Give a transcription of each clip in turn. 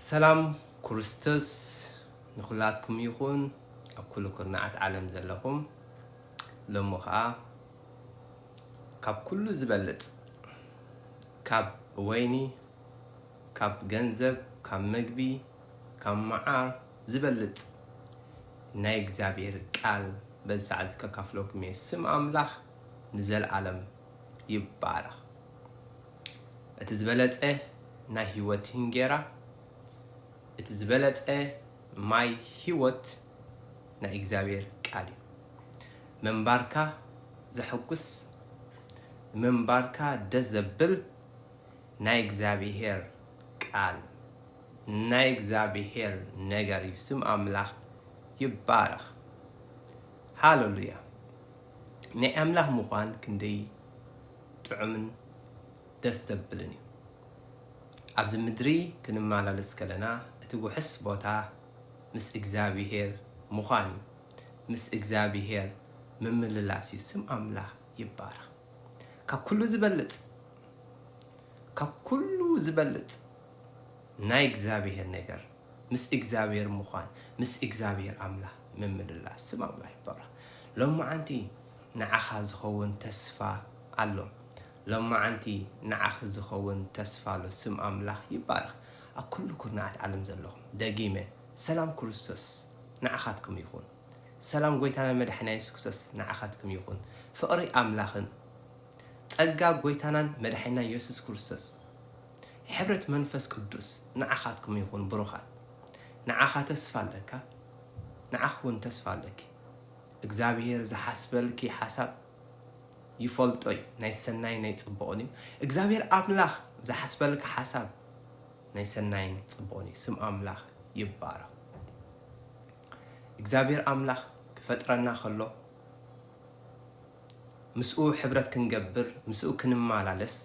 ሰላም ኩርስቶስ ንኩላትኩም ይኩን ኣብ ኩሉ ኩርናዓት ዓለም ዘለኩም ሎሚ ከኣ ካብ ኩሉ ዝበልጽ ካብ ወይኒ ካብ ገንዘብ ካብ መግቢ ካብ መዓር ዝበልጽ ናይ እግዚኣብሔር ቃል በዚ ሰዓት እዚ ከካፍለኩም እየ ስም ኣምላክ ንዘልኣለም ይባረክ። እቲ ዝበለጸ ናይ ሕይወት እንጌራ እቲ ዝበለጸ ማይ ሕይወት ናይ እግዚኣብሔር ቃል እዩ። ምንባርካ ዘሕጉስ ምንባርካ ደስ ዘብል ናይ እግዚኣብሔር ቃል ናይ እግዚኣብሔር ነገር እዩ። ስም ኣምላኽ ይባረኽ። ሃለሉያ ናይ ኣምላኽ ምዃን ክንደይ ጥዑምን ደስ ዘብልን እዩ። ኣብዚ ምድሪ ክንማላለስ ከለና እቲ ውሕስ ቦታ ምስ እግዚኣብሄር ምዃን እዩ። ምስ እግዚኣብሄር ምምልላስ እዩ። ስም ኣምላኽ ይባረኽ። ካብ ኩሉ ዝበልጽ ካብ ኩሉ ዝበልጽ ናይ እግዚኣብሄር ነገር ምስ እግዚኣብሔር ምዃን ምስ እግዚኣብሔር ኣምላኽ ምምልላስ ስም ኣምላኽ ይባረኽ ሎማዓንቲ ንዓኻ ዝኸውን ተስፋ ኣሎ ሎማዓንቲ ንዓኺ ዝኸውን ተስፋ ኣሎ ስም ኣምላኽ ይባረኽ ኣብ ኩሉ ኩርናዓት ዓለም ዘለኹም ደጊመ ሰላም ኩርስቶስ ንዓኻትኩም ይኹን ሰላም ጎይታናን መዳሕና የሱስ ኩርሰስ ንዓኻትኩም ይኹን ፍቕሪ ኣምላኽን ጸጋ ጎይታናን መዳሕና የሱስ ኩርሰስ ሕብረት መንፈስ ቅዱስ ንዓኻትኩም ይኹን ብሩኻት። ንዓኻ ተስፋ ኣለካ ንዓኺ ውን ተስፋ ኣለኪ። እግዝኣብሄር ዝሓስበልኪ ሓሳብ ይፈልጦ ዩ ናይ ሰናይን ናይ ጽቡቕን ዩ። እግዝኣብሄር ኣምላኽ ዝሓስበልካ ሓሳብ ናይ ሰናይን ጽቡቕን ዩ። ስም ኣምላኽ ይባረኽ። እግዝኣብሄር ኣምላኽ ክፈጥረና ከሎ ምስኡ ሕብረት ክንገብር ምስኡ ክንማላለስ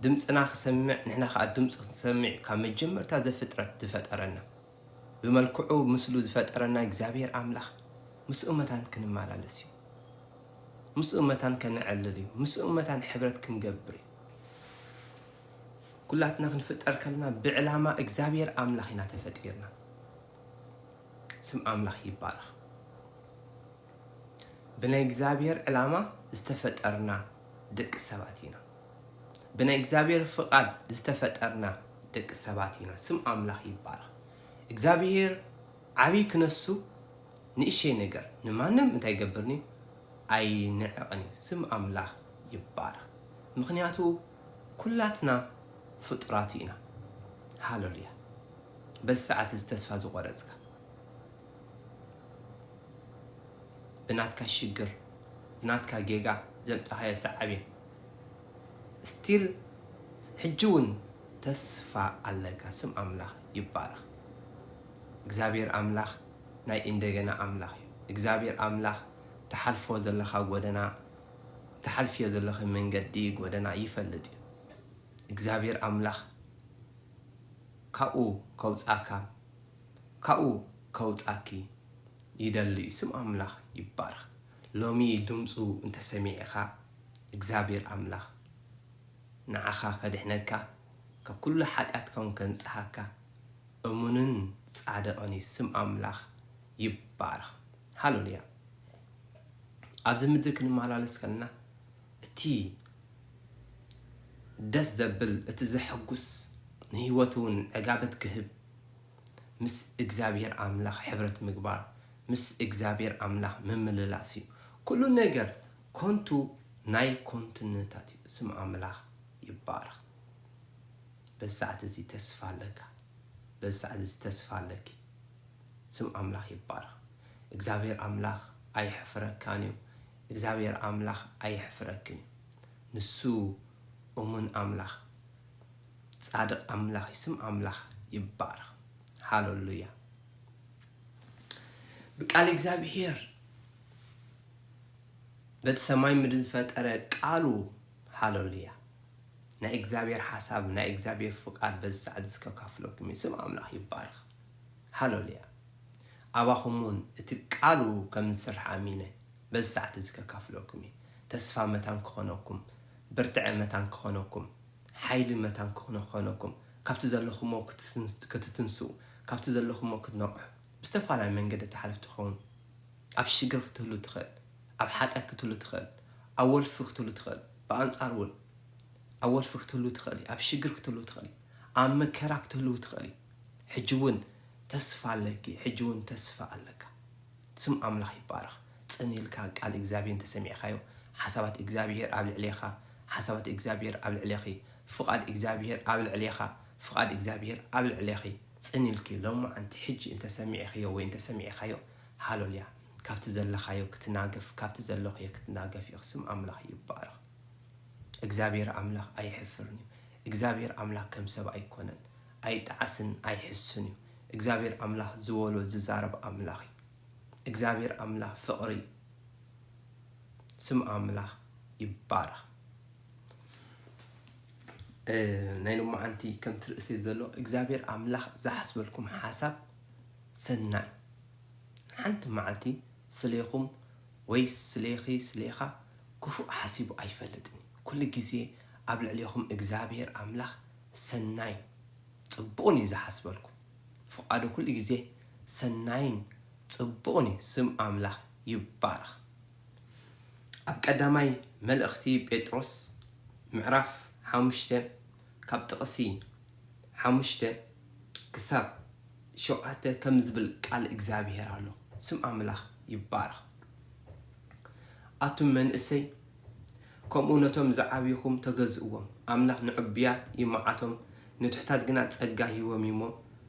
ድምጽና ክሰምዕ ንሕና ከኣ ድምጹ ክንሰምዕ'ዩ ካብ መጀመርታ ዘፍጥረት ዝፈጠረና ብመልክዑ ምስሉ ዝፈጠረና እግዚኣብሄር ኣምላኽ ምስኡ መታን ክንማላለስ'ዩ ምስኡ መታን ከነዕልል'ዩ ምስኡ መታን ሕብረት ክንገብር'ዩ ኩላትና ክንፍጠር ከለና ብዕላማ እግዚኣብሄር ኣምላኽ ኢና ተፈጢርና ስም ኣምላኽ ይባረኽ ብናይ እግዚኣብሔር ዕላማ ዝተፈጠርና ደቂ ሰባት ኢና። ብናይ እግዚኣብሔር ፍቃድ ዝተፈጠርና ደቂ ሰባት ኢና። ስም ኣምላኽ ይባረኽ። እግዚኣብሔር ዓብይ ክነሱ ንእሸይ ነገር ንማንም እንታይ ይገብርን እዩ ኣይንዕቕን እዩ። ስም ኣምላኽ ይባረኽ። ምክንያቱ ኩላትና ፍጡራቱ ኢና። ሃለሉያ። በዚ ሰዓት እዚ ተስፋ ዝቆረፅካ ብናትካ ሽግር ብናትካ ጌጋ ዘምጻኻዮ ሳዓቤን እስቲል ሕጂ ውን ተስፋ ኣለካ ስም ኣምላኽ ይባረኽ እግዚኣብሄር ኣምላኽ ናይ ኢንደገና ኣምላኽ እዩ እግዚኣብሄር ኣምላኽ ትሓልፎ ዘለኻ ጎደና ትሓልፍዮ ዘለኺ መንገዲ ጎደና ይፈልጥ እዩ እግዚኣብሄር ኣምላኽ ካብኡ ከውጻካ ካብኡ ከውጻኪ ይደሊ እዩ ስም ኣምላኽ ይባረኽ ሎሚ ድምጹ እንተ ሰሚዕኻ እግዚኣብሔር ኣምላኽ ንዓኻ ከድሕነካ ካብ ኩሉ ሓጢኣትካ ውን ከንጽሃካ እሙንን ጻድቕን እዩ ስም ኣምላኽ ይባረኽ ሃለሉያ ኣብዚ ምድሪ ክንመላለስ ከለና እቲ ደስ ዘብል እቲ ዘሐጉስ ንህይወት ውን ዕጋበት ክህብ ምስ እግዚኣብሔር ኣምላኽ ሕብረት ምግባር ምስ እግዚኣብሔር ኣምላኽ ምምልላስ እዩ ኩሉ ነገር ኮንቱ ናይ ኮንትነታት እዩ ስም ኣምላኽ ይባረኽ በዚ ሰዓት እዚ ተስፋ ኣለካ በዚ ሰዓት እዚ ተስፋ ኣለኪ ስም ኣምላኽ ይባረኽ እግዚኣብሔር ኣምላኽ ኣይሕፍረካን እዩ እግዚኣብሔር ኣምላኽ ኣይሕፍረክን እዩ ንሱ እሙን ኣምላኽ ጻድቅ ኣምላኽ እዩ ስም ኣምላኽ ይባረኽ ሃሎሉያ ብቃል እግዚኣብሄር በቲ ሰማይ ምድሪ ዝፈጠረ ቃሉ ሃሎሉያ ናይ እግዚኣብሄር ሓሳብ ናይ እግዚኣብሄር ፍቃድ በዚ ሰዓት እዚ ከካፍለኩም እዩ ስም ኣምላኽ ይባረኽ ሃሎሉያ ኣባኹም እውን እቲ ቃሉ ከም ዝስራሕ ኣሚነ በዚ ሰዓት እዚ ከካፍለኩም እዩ ተስፋ መታን ክኾነኩም ብርትዐ መታን ክኾነኩም ሓይልን መታን ክኾነኩም፣ ካብቲ ዘለኹሞ ክትትንስኡ፣ ካብቲ ዘለኹሞ ክትነቕሑ፣ ብዝተፋላለየ መንገዲ ትሓልፍ ትኸውን። ኣብ ሽግር ክትህሉ ትኽእል፣ ኣብ ሓጢኣት ክትህሉ ትኽእል፣ ኣብ ወልፊ ክትህሉ ትኽእል፣ ብኣንጻሩ እውን ኣብ ወልፊ ክትህሉ ትኽእል እዩ፣ ኣብ ሽግር ክትህሉ ትኽእል እዩ፣ ኣብ መከራ ክትህልው ትኽእል እዩ። ሕጂ እውን ተስፋ ኣለኪ፣ ሕጂ እውን ተስፋ ኣለካ። ስም ኣምላኽ ይባረኽ ጽን ኢልካ ቃል እግዚኣብሄ እንተ ሰሚዕካዮ ሓሳባት እግዚኣብሄር ኣብ ልዕሌኻ ሓሳባት እግዚኣብሄር ኣብ ልዕሌኺ ፍቓድ እግዚኣብሄር ኣብ ልዕሌኻ ፍቓድ እግዚኣብሄር ኣብ ልዕሌኺ ጽን ኢልኪ ሎምዓንቲ ሕጂ እንተ ሰሚዕኽዮ ወይ እንተ ሰሚዕካዮ ሃሎልያ ካብቲ ዘለኻዮ ክትናገፍ ካብቲ ዘለኽዮ ክትናገፍ ኢኺ ስም ኣምላኽ ይባረኽ እግዚኣብሄር ኣምላኽ ኣይሕፍርን እዩ እግዚኣብሄር ኣምላኽ ከም ሰብ ኣይኮነን ኣይጣዓስን ኣይሕስን እዩ እግዚኣብሔር ኣምላክ ዝበሎ ዝዛረብ ኣምላክ እዩ እግዚኣብሔር ኣምላክ ፍቅሪ እዩ ስም ኣምላክ ይባረክ። ናይ ሎማዓንቲ ከምቲ ርእሰይ ዘሎ እግዚኣብሔር ኣምላክ ዝሓስበልኩም ሓሳብ ሰናይ ሓንቲ መዓልቲ ስሌኹም ወይስ ስሌኺ ስሌኻ ክፉእ ሓሲቡ ኣይፈልጥን ኩሉ ግዜ ኣብ ልዕሌኹም እግዚኣብሔር ኣምላክ ሰናይ ጽቡቕን እዩ ዝሓስበልኩም። ፍቓዱ ኩሉ ግዜ ሰናይን ጽቡቕን እዩ ስም ኣምላኽ ይባረኽ። ኣብ ቀዳማይ መልእኽቲ ጴጥሮስ ምዕራፍ ሓሙሽተ ካብ ጥቕሲ ሓሙሽተ ክሳብ ሸውዓተ ከምዚ ዝብል ቃል እግዚኣብሄር ኣሎ ስም ኣምላኽ ይባረኽ ኣቱም መንእሰይ ከምኡ ነቶም ዝዓብዩኹም ተገዝእዎም፣ ኣምላኽ ንዕቡያት ይመዓቶም፣ ንትሑታት ግና ጸጋ ይህቦም እዩ እሞ፣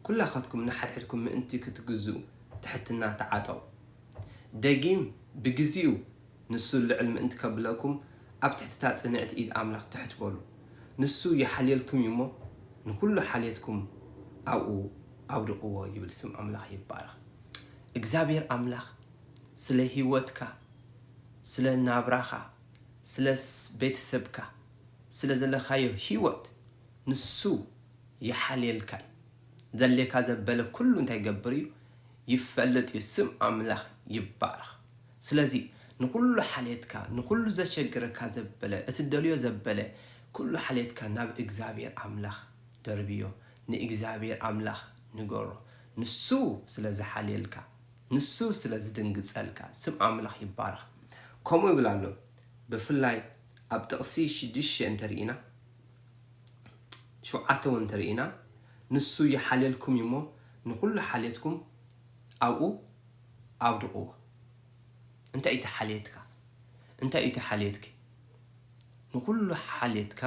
ኵላኻትኩም ንሓድሕድኩም ምእንቲ ኽትግዝኡ፣ ትሕትና ተዓጠቑ። ደጊም ብግዜኡ፣ ንሱ ልዕል ምእንቲ ኸብለኩም፣ ኣብ ትሕቲ እታ ጽንዕቲ ኢድ ኣምላኽ ትሕት በሉ። ንሱ ይሓልየልኩም እዩ እሞ፣ ንዅሉ ሓልየትኩም ኣብኡ ኣውድቕዎ ይብል። ስም ኣምላኽ ይባረኽ። እግዚኣብሄር ኣምላኽ ስለ ህይወትካ። ስለ ናብራኻ፣ ስለ ቤተሰብካ፣ ስለ ዘለኻዮ ህይወት ንሱ ይሓልየልካ እዩ። ዘድልየካ ዘበለ ኩሉ እንታይ ይገብር እዩ? ይፈልጥ እዩ። ስም ኣምላኽ ይባረኽ። ስለዚ ንኹሉ ሓልየትካ፣ ንኹሉ ዘሸግረካ ዘበለ፣ እትደልዮ ዘበለ ኩሉ ሓልየትካ ናብ እግዚኣብሄር ኣምላኽ ደርብዮ። ንእግዚኣብሄር ኣምላኽ ንገሮ። ንሱ ስለ ዝሓልየልካ። ንሱ ስለ ዝድንግጸልካ። ስም ኣምላኽ ይባረኽ። ከምኡ ይብል ኣሎ ብፍላይ ኣብ ጥቕሲ ሽዱሽተ እንተ ርኢና ሸውዓተ እውን እንተ ርኢና ንሱ ይሓልየልኩም እዩ እሞ ንኹሉ ሓልየትኩም ኣብኡ ኣውድቕዎ። እንታይ እዩ እቲ ሓልየትካ? እንታይ እዩ እቲ ሓልየትኪ? ንኹሉ ሓልየትካ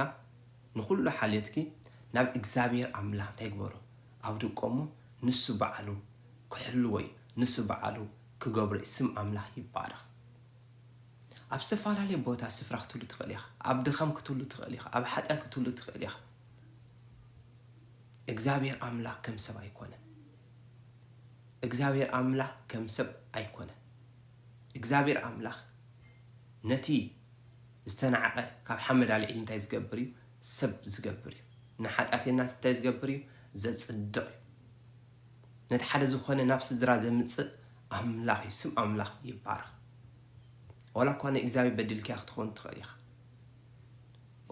ንኹሉ ሓልየትኪ ናብ እግዚኣብሔር ኣምላኽ እንታይ ግበሮ? ኣብ ድቆሙ ንሱ ባዓሉ ክሕልዎዩ ንሱ ባዓሉ ክገብሮዩ ስም ኣምላኽ ይባረኽ ኣብ ዝተፋላለየ ቦታ ስፍራ ክትህሉ ትኽእል ኢኻ ኣብ ድኻም ክትህሉ ትኽእል ኢኻ ኣብ ሓጢኣት ክትህሉ ትኽእል ኢኻ እግዚኣብሔር ኣምላኽ ከም ሰብ ኣይኮነን እግዚኣብሔር ኣምላኽ ከም ሰብ ኣይኮነን እግዚኣብሔር ኣምላኽ ነቲ ዝተናዕቐ ካብ ሓመድ ኣልዒሉ እንታይ ዝገብር እዩ ሰብ ዝገብር እዩ ንሓጢኣተይናስ እንታይ ዝገብር እዩ ዘጽድቕ እዩ ነቲ ሓደ ዝኾነ ናብ ስድራ ዘምጽእ ኣምላኽ እዩ ስም ኣምላኽ ይባረኽ ወላ እኳ ንእግዚኣብሔር በድልክያ ክትኸውን ትኽእል ኢኻ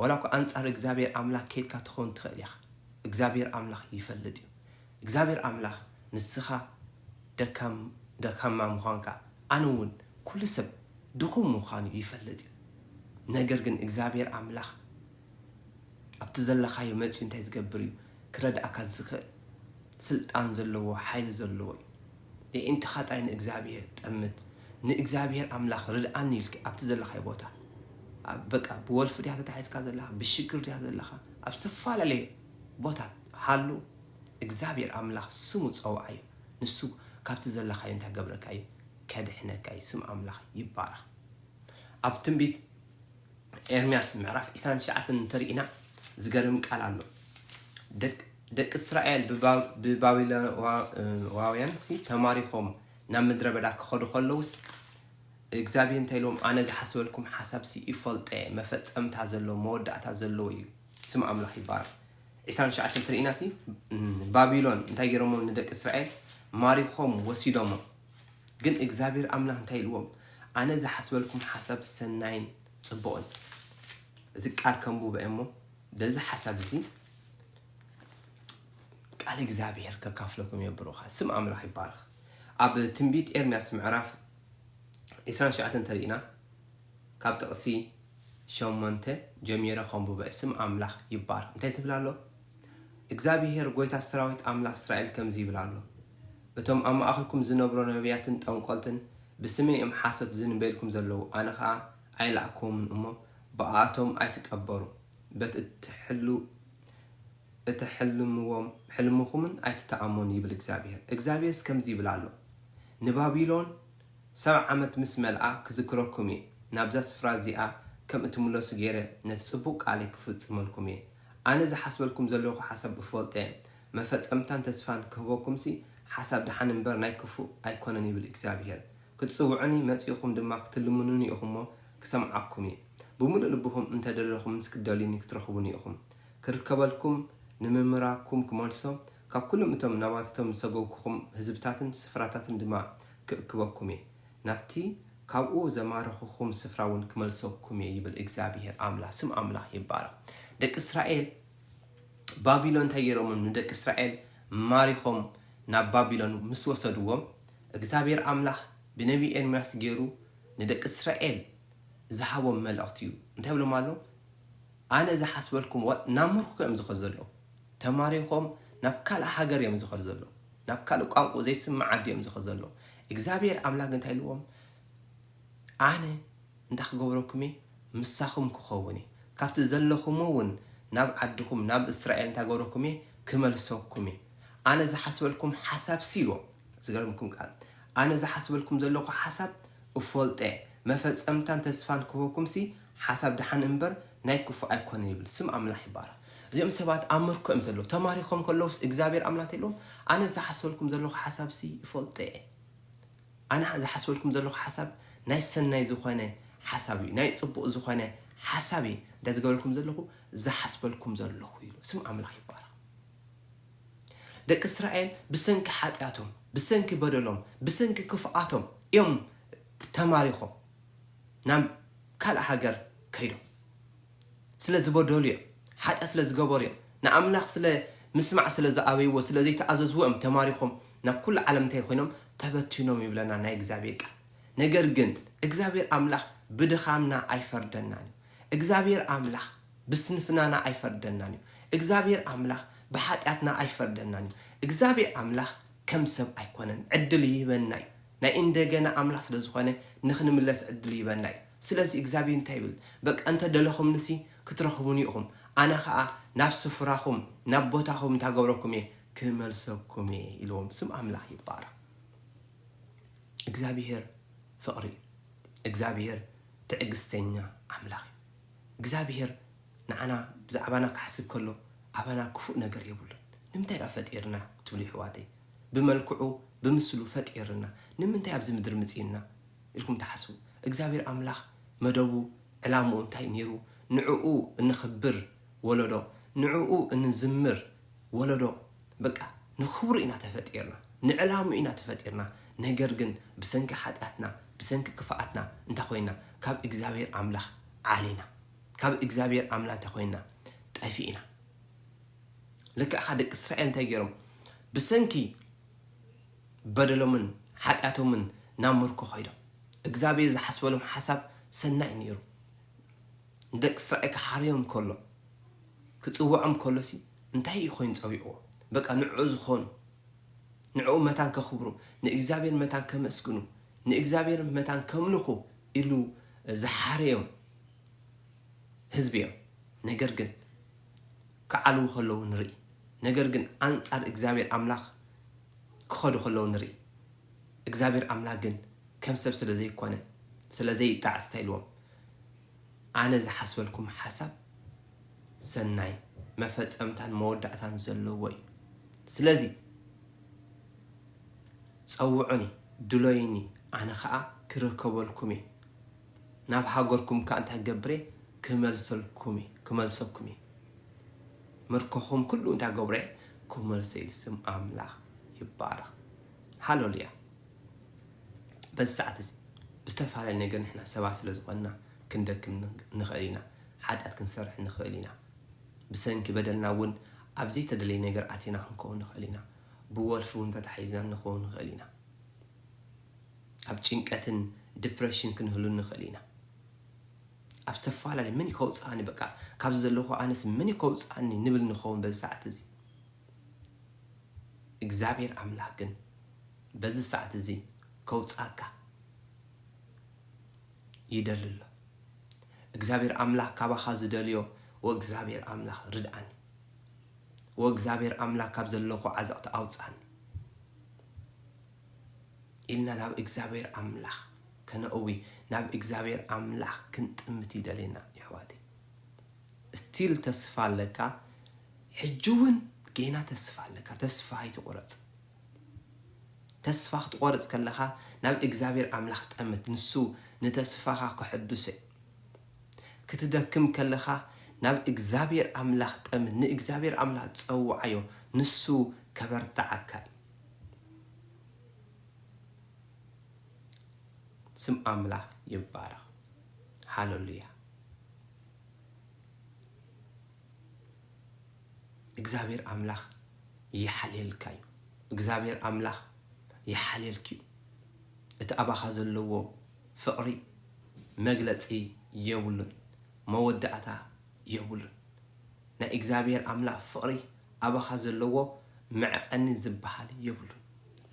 ወላ እኳ ኣንጻር እግዚኣብሔር ኣምላኽ ከይድካ ትኸውን ትኽእል ኢኻ እግዚኣብሔር ኣምላኽ ይፈልጥ እዩ እግዚኣብሔር ኣምላኽ ንስኻ ደካማ ምዃንካ ኣነ እውን ኩሉ ሰብ ድኹም ምዃኑ ይፈልጥ እዩ ነገር ግን እግዚኣብሔር ኣምላኽ ኣብቲ ዘለኻዮ መፂኡ እንታይ ዝገብር እዩ ክረድኣካ ዝኽእል? ስልጣን ዘለዎ ሓይሊ ዘለዎ እዩ። የዒንትኻ ጥራይ ንእግዚኣብሄር ጠምት። ንእግዚኣብሄር ኣምላኽ ርድኣኒ ኢልክ ኣብቲ ዘለኻዮ ቦታ ኣብ በቃ ብወልፊ ድያ ተታሒዝካ ዘለኻ ብሽግር ድያ ዘለኻ ኣብ ዝተፈላለየ ቦታ ሃሉ እግዚኣብሄር ኣምላኽ ስሙ ጸውዓዮ ንሱ ካብቲ ዘለኻዮ እንታይ ገብረካ እዩ ከድሕነካ እዩ ስም ኣምላኽ ይባረኽ ኣብ ትንቢት ኤርምያስ ምዕራፍ ዕስራን ትሽዓተን እንተሪኢና ዝገርም ቃል ኣሎ ደቅ ደቂ እስራኤል ብባቢሎናውያንሲ ተማሪኾም ናብ ምድረ በዳ ክኸዱ ከለውስ እግዚኣብሔር እንታይ ኢሎም ኣነ ዝሓስበልኩም ሓሳብሲ ይፈልጠ መፈፀምታ ዘለዎ መወዳእታ ዘለዎ እዩ ስም ኣምላኽ ይባረክ 29 ትርኢናሲ ባቢሎን እንታይ ገይሮሞ ንደቂ እስራኤል ማሪኾም ወሲዶሞ ግን እግዚኣብሔር ኣምላኽ እንታይ ኢልዎም ኣነ ዝሓስበልኩም ሓሳብ ሰናይን ጽቡቕን እቲ ቃል ከምቡ በ እሞ በዚ ሓሳብ እዚ ቃል እግዚኣብሔር ከካፍለኩም እየ ብሩኻ ስም ኣምላኽ ይባርኽ ኣብ ትንቢት ኤርምያስ ምዕራፍ 29 እንተሪእና ካብ ጥቕሲ ሸሞንተ ጀሚረ ከምቡበ ስም ኣምላኽ ይባርኽ እንታይ ዝብል ኣሎ እግዚኣብሔር ጎይታ ሰራዊት ኣምላኽ እስራኤል ከምዚ ይብል ኣሎ እቶም ኣብ ማእከልኩም ዝነብሮ ነብያትን ጠንቆልትን ብስመይ እዮም ሓሶት ዝንበይልኩም ዘለዉ፣ ኣነ ኸኣ ኣይለኣክኩዎምን እሞ፣ ብኣኣቶም ኣይትጠበሩ፣ በቲ እትሕልምዎም ሕልምኹምን ኣይትተኣመኑ ይብል እግዚኣብሄር። እግዚኣብሄርስ ከምዚ ይብል ኣሎ፣ ንባቢሎን ሰብዓ ዓመት ምስ መልኣ ክዝክረኩም እየ፣ ናብዛ ስፍራ እዚኣ ከም እትምለሱ ገይረ ነቲ ጽቡቕ ቃለይ ክፍጽመልኩም እየ፣ ኣነ ዝሓስበልኩም ዘለኹ ሓሳብ እፈልጦ እየ፣ መፈጸምታን ተስፋን ክህበኩምሲ ሓሳብ ደሓን እምበር ናይ ክፉእ ኣይኮነን ይብል እግዚኣብሄር። ክትጽውዑኒ መጺእኹም ድማ ክትልምኑኒ ኢኹም'ሞ ክሰምዓኩም እየ። ብምሉእ ልብኹም እንተ ደለኹምንስ ክትደልዩኒ ክትረኽቡኒ ኢኹም። ክርከበልኩም ንምምራኩም ክመልሶ፣ ካብ ኩሎም እቶም ናባታቶም ዝሰጎግኩኹም ህዝብታትን ስፍራታትን ድማ ክእክበኩም እየ፣ ናብቲ ካብኡ ዘማረኹኹም ስፍራ'ውን ክመልሰኩም እየ ይብል እግዚኣብሄር ኣምላኽ። ስም ኣምላኽ ይባረኽ። ደቂ እስራኤል፣ ባቢሎን እንታይ ጌሮምም ንደቂ እስራኤል ማሪኾም ናብ ባቢሎን ምስ ወሰድዎም እግዚኣብሄር ኣምላኽ ብነብዪ ኤርምያስ ጌሩ ንደቂ እስራኤል ዝሃቦም መልእኽቲ እዩ እንታይ ብሎም ኣሎ ኣነ ዝሓስበልኩም ወ ናብ ምርኮ እዮም ዝኸዱ ዘለዉ ተማሪኾም ናብ ካልእ ሃገር እዮም ዝኸዱ ዘለዉ ናብ ካልእ ቋንቁ ዘይስምዕ ዓዲ እዮም ዝኸዱ ዘለዉ እግዚኣብሄር ኣምላኽ እንታይ ኢልዎም ኣነ እንታይ ክገብረኩም'የ? ምሳኹም ክኸውን'የ፣ ካብቲ ዘለኹሞ ውን ናብ ዓድኹም ናብ እስራኤል እንታይ ክገብረኩም'የ? ክመልሰኩም'የ። ኣነ ዝሓስበልኩም ሓሳብሲ ኢልዎም፣ ዝገርምኩም ቃል፣ ኣነ ዝሓስበልኩም ዘለኹ ሓሳብ እፈልጦ'የ፣ መፈጸምታን ተስፋን ክህበኩምሲ ሓሳብ ደሓን እምበር ናይ ክፉእ ኣይኮነን ይብል። ስም ኣምላኽ ይባረኽ። እዚኦም ሰባት ኣብ ምርኮ እዮም ዘለዉ፣ ተማሪኾም ከለዉስ እግዚኣብሄር ኣምላኽ እንታይ ኢልዎም፣ ኣነ ዝሓስበልኩም ዘለኹ ሓሳብሲ እፈልጦ'የ። ኣነ ዝሓስበልኩም ዘለኩ ሓሳብ ናይ ሰናይ ዝኮነ ሓሳብ እዩ ናይ ጽቡቅ ዝኮነ ሓሳብ እየ እንተ ዝገብረልኩም ዘለኩ ዝሓስበልኩም ዘለኩ ኢሉ ስም ኣምላክ ይባረክ ደቂ እስራኤል ብሰንኪ ሓጢኣቶም ብሰንኪ በደሎም ብሰንኪ ክፍኣቶም እዮም ተማሪኮም ናብ ካልእ ሃገር ከይዶም ስለ ዝበደሉ እዮም ሓጢኣት ስለ ዝገበሩ እዮም ንኣምላኽ ስለ ምስማዕ ስለ ዝኣበይዎ ስለ ዘይተኣዘዝዎ እዮም ተማሪኾም ናብ ኩሉ ዓለም እንታይ ኮይኖም ተበቲኖም ይብለና ናይ እግዚኣብሔር ቃል ነገር ግን እግዚኣብሔር ኣምላኽ ብድኻምና ኣይፈርደናን እዩ እግዚኣብሔር ኣምላኽ ብስንፍናና ኣይፈርደናን እዩ እግዚኣብሔር ኣምላኽ ብሓጢኣትና ኣይፈርደናን እዩ እግዚኣብሔር ኣምላኽ ከም ሰብ ኣይኮነን ዕድል ይህበና እዩ ናይ እንደገና ኣምላኽ ስለ ዝኾነ ንኽንምለስ ዕድል ይህበና እዩ። ስለዚ እግዚኣብሄር እንታይ ይብል በቃ እንተ ደለኹምኒሲ ክትረኽቡኒ ኢኹም ኣነ ኸኣ ናብ ስፍራኹም ናብ ቦታኹም እንታይ ገብረኩም እየ ክመልሰኩም እየ ኢልዎም። ስም ኣምላኽ ይባረኽ። እግዚኣብሄር ፍቕሪ እዩ። እግዚኣብሄር ትዕግስተኛ ኣምላኽ እዩ። እግዚኣብሄር ንዓና ብዛዕባና ክሓስብ ከሎ ኣባና ክፉእ ነገር የብሉን። ንምንታይ ደኣ ፈጢርና ትብሉ የሕዋተይ? ብመልክዑ ብምስሉ ፈጢርና ንምንታይ ኣብዚ ምድሪ ምጺእና ኢልኩም ትሓስቡ እግዚኣብሔር ኣምላኽ መደቡ ዕላምኡ እንታይ ኔሩ ንዕኡ እነኽብር ወለዶ ንዕኡ እንዝምር ወለዶ በቃ ንኽብሩ ኢና ተፈጢርና ንዕላምኡ ኢና ተፈጢርና ነገር ግን ብሰንኪ ሓጢኣትና ብሰንኪ ክፍኣትና እንታይ ኮይና ካብ እግዚኣብሔር ኣምላኽ ዓሊና ካብ እግዚኣብሔር ኣምላ እንታይ ኮይና ጠፊእና ልክዕኻ ደቂ እስራኤል እንታይ ገይሮም ብሰንኪ በደሎምን ሓጢኣቶምን ናብ ምርኮ ከይዶም እግዝኣብሄር ዝሓስበሎም ሓሳብ ሰናይ ነይሩ ንደቂ እስራኤል ክሓርዮም ከሎ ክጽውዖም ከሎሲ እንታይ እዩ ኮይኑ ጸዊዕዎ በቃ ንዕኡ ዝኾኑ ንዕኡ መታን ከኽብሩ ንእግዚኣብሔር መታን ከመስግኑ ንእግዚኣብሔር መታን ከምልኹ ኢሉ ዝሓረዮም ህዝቢ እዮም ነገር ግን ክዓልዉ ከለዉ ንርኢ፣ ነገር ግን ኣንጻር እግዚኣብሄር ኣምላኽ ክኸዱ ከለዉ ንርኢ። እግዚኣብሄር ኣምላኽ ግን ከም ሰብ ስለ ዘይኰነ፣ ስለ ዘይጣዓስ እንታይ ኢልዎም፣ ኣነ ዝሓስበልኩም ሓሳብ ሰናይ፣ መፈጸምታን መወዳእታን ዘለዎ እዩ። ስለዚ ጸውዑኒ፣ ድሎዩኒ፣ ኣነ ኸኣ ክርከበልኩም እየ። ናብ ሃገርኩም እካ እንታይ ክገብር እየ ክመልሰልኩም እየ ክመልሰኩም እየ ምርኮኹም ኩሉ እንታይ ክገብሮ እየ ክመልሶ እየ ኢሉ ስም ኣምላኽ ይባረኽ ሃለሉያ በዚ ሰዓት እዚ ብዝተፈላለየ ነገር ንሕና ሰባት ስለ ዝኾንና ክንደክም ንኽእል ኢና ሓጢኣት ክንሰርሕ ንኽእል ኢና ብሰንኪ በደልና እውን ኣብ ዘይተደለየ ነገር ኣቲና ክንከውን ንኽእል ኢና ብወልፊ እውን ተታሒዝና ንኸውን ንኽእል ኢና ኣብ ጭንቀትን ድፕረሽን ክንህሉ ንኽእል ኢና ኣብ ዝተፈላለዩ መን እዩ ከውፅኣኒ በቃ ካብዚ ዘለኹ ኣነስ መን እዩ ከውፅኣኒ ንብል ንኸውን በዚ ሰዓት እዚ እግዚኣብሔር ኣምላክ ግን በዚ ሰዓት እዚ ከውፅኣካ ይደሊ ኣሎ እግዚኣብሔር ኣምላክ ካባኻ ዝደልዮ ወእግዚኣብሔር ኣምላክ ርድኣኒ ወእግዚኣብሔር ኣምላክ ካብ ዘለኹ ዓዘቕቲ ኣውፅኣኒ ኢልና ናብ እግዚኣብሔር ኣምላኽ ከነእዊ ናብ እግዚኣብሔር ኣምላኽ ክንጥምት ይደሌና የሕዋተይ እስቲል ተስፋ ኣለካ ሕጂ ውን ጌና ተስፋ ኣለካ ተስፋ ኣይትቁረጽ ተስፋ ክትቆርጽ ከለኻ ናብ እግዚኣብሔር ኣምላኽ ጠምት ንሱ ንተስፋኻ ከሐዱሰ ክትደክም ከለኻ ናብ እግዚኣብሔር ኣምላኽ ጠምት ንእግዚኣብሔር ኣምላኽ ጸውዓዮ ንሱ ከበርትዓካ እዩ ስም ኣምላኽ ይባረኽ ሃለሉያ እግዚኣብሔር ኣምላኽ ይሓልየልካ እዩ እግዚኣብሔር ኣምላኽ ይሓልየልክ እዩ እቲ ኣባኻ ዘለዎ ፍቕሪ መግለፂ የብሉን መወዳእታ የቡሉን ናይ እግዛብሄር ኣምላክ ፍቅሪ ኣባካ ዘለዎ መዕቀኒ ዝባሃል የብሉን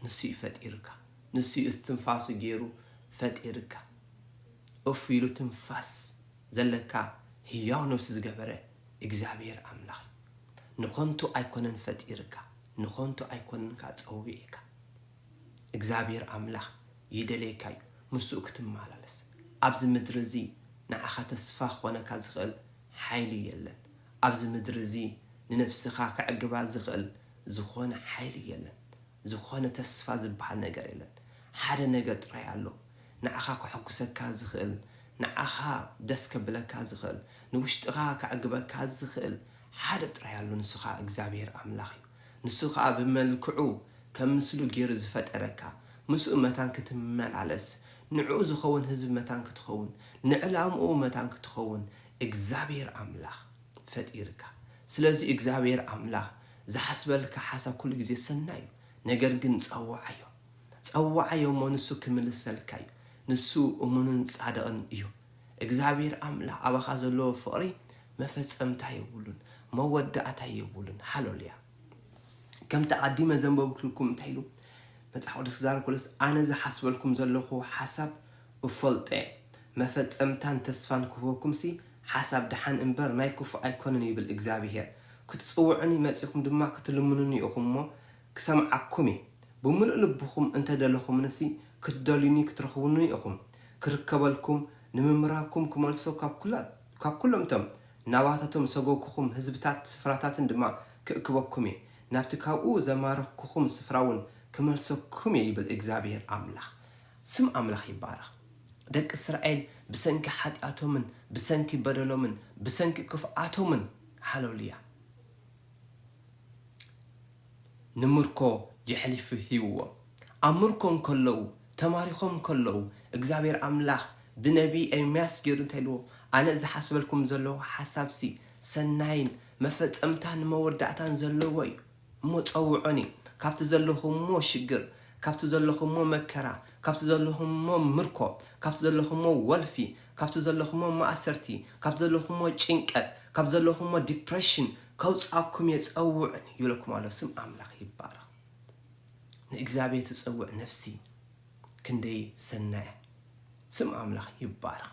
ንሱ እዩ ፈጢርካ ንሱ እዩ እስትንፋሱ ጌሩ ፈጢርካ ኡፍ ኢሉ ትንፋስ ዘለካ ህያው ነብሲ ዝገበረ እግዛብሄር ኣምላክ እዩ ንኮንቱ ኣይኮነን ፈጢርካ ንኮንቱ ኣይኮነን ካኣ ጸዊዕካ እግዚኣብሄር ኣምላኽ ይደልየካ እዩ ምስኡ ክትመላለስ ኣብዚ ምድሪ እዚ ንዓኻ ተስፋ ክኾነካ ዝኽእል ሓይሊ የለን ኣብዚ ምድሪ እዚ ንነብስኻ ከዕግባ ዝኽእል ዝኾነ ሓይሊ የለን ዝኾነ ተስፋ ዝብሃል ነገር የለን ሓደ ነገር ጥራይ ኣሎ ንዓኻ ከሕጉሰካ ዝኽእል ንዓኻ ደስ ከብለካ ዝኽእል ንውሽጥኻ ከዕግበካ ዝኽእል ሓደ ጥራይ ኣሎ ንሱኻ እግዚኣብሄር ኣምላኽ እዩ። ንሱ ኸኣ ብመልክዑ ከም ምስሉ ገይሩ ዝፈጠረካ፣ ምስኡ መታን ክትመላለስ፣ ንዕኡ ዝኸውን ህዝቢ መታን ክትኸውን፣ ንዕላምኡ መታን ክትኸውን እግዚኣብሄር ኣምላኽ ፈጢርካ። ስለዚ እግዚኣብሄር ኣምላኽ ዝሓስበልካ ሓሳብ ኩሉ ግዜ ሰናይ እዩ። ነገር ግን ጸውዓዮ። ጸውዓዮ እሞ ንሱ ክምልሰልካ እዩ። ንሱ እሙንን ጻድቕን እዩ። እግዝኣብሄር ኣምላክ ኣባካ ዘለዎ ፍቅሪ መፈጸምታ የቡሉን መወዳኣታ የቡሉን ሃሎልያ ከምቲ ኣቀዲመ ዘንበብክልኩም እንታይ ኢሉ መጽሓፍ ቅዱስ ክዛረብ ከሎስ ኣነ ዝሓስበልኩም ዘለኩ ሓሳብ እፈልጦ እየ መፈጸምታን ተስፋን ክህበኩምሲ ሓሳብ ደሓን እንበር ናይ ክፉእ ኣይኮነን ይብል እግዝኣብሄር ክትጽውዑኒ መጺኩም ድማ ክትልምኑኒ ኢኩም እሞ ክሰምዓኩም እየ ብምሉእ ልብኹም እንተ ደለኹምኒሲ ክትደልዩኒ ክትረኽቡኒ ኢኹም ክርከበልኩም ንምምራኩም ክመልሶ ካብ ኩላ ካብ ኩሎም እቶም ናባታቶም ዝሰጎግኩኹም ህዝብታት ስፍራታትን ድማ ክእክበኩም እየ ናብቲ ካብኡ ዘማረኽኩኹም ስፍራውን ክመልሰኩም እየ ይብል እግዚኣብሄር ኣምላኽ ስም ኣምላኽ ይባረኽ ደቂ እስራኤል ብሰንኪ ሓጢኣቶምን ብሰንኪ በደሎምን ብሰንኪ ክፍኣቶምን ሃለሉያ። ንምርኮ የሕሊፉ ሂብዎም። ኣብ ምርኮ እንከለዉ፣ ተማሪኾም እንከለዉ፣ እግዚኣብሄር ኣምላኽ ብነብዪ ኤርምያስ ገይሩ እንታይ ኢልዎም፣ ኣነ ዝሓስበልኩም ዘለኹ ሓሳብሲ፣ ሰናይን መፈጸምታን መወዳእታን ዘለዎ እዩ። እሞ ጸውዑኒ፣ ካብቲ ዘለኹምዎ ሽግር፣ ካብቲ ዘለኹምዎ መከራ፣ ካብቲ ዘለኹምዎ ምርኮ፣ ካብቲ ዘለኹምዎ ወልፊ፣ ካብቲ ዘለኹሞ ማእሰርቲ፣ ካብቲ ዘለኹሞ ጭንቀት፣ ካብቲ ዘለኹሞ Depression ከውጽኣኩም እየ ጸውዑኒ ይብለኩም ኣሎ። ስም ኣምላኽ ይባረኽ። ንእግዚኣብሄር ትጸውዕ ነፍሲ ክንደይ ሰናይ እያ። ስም ኣምላኽ ይባረኽ።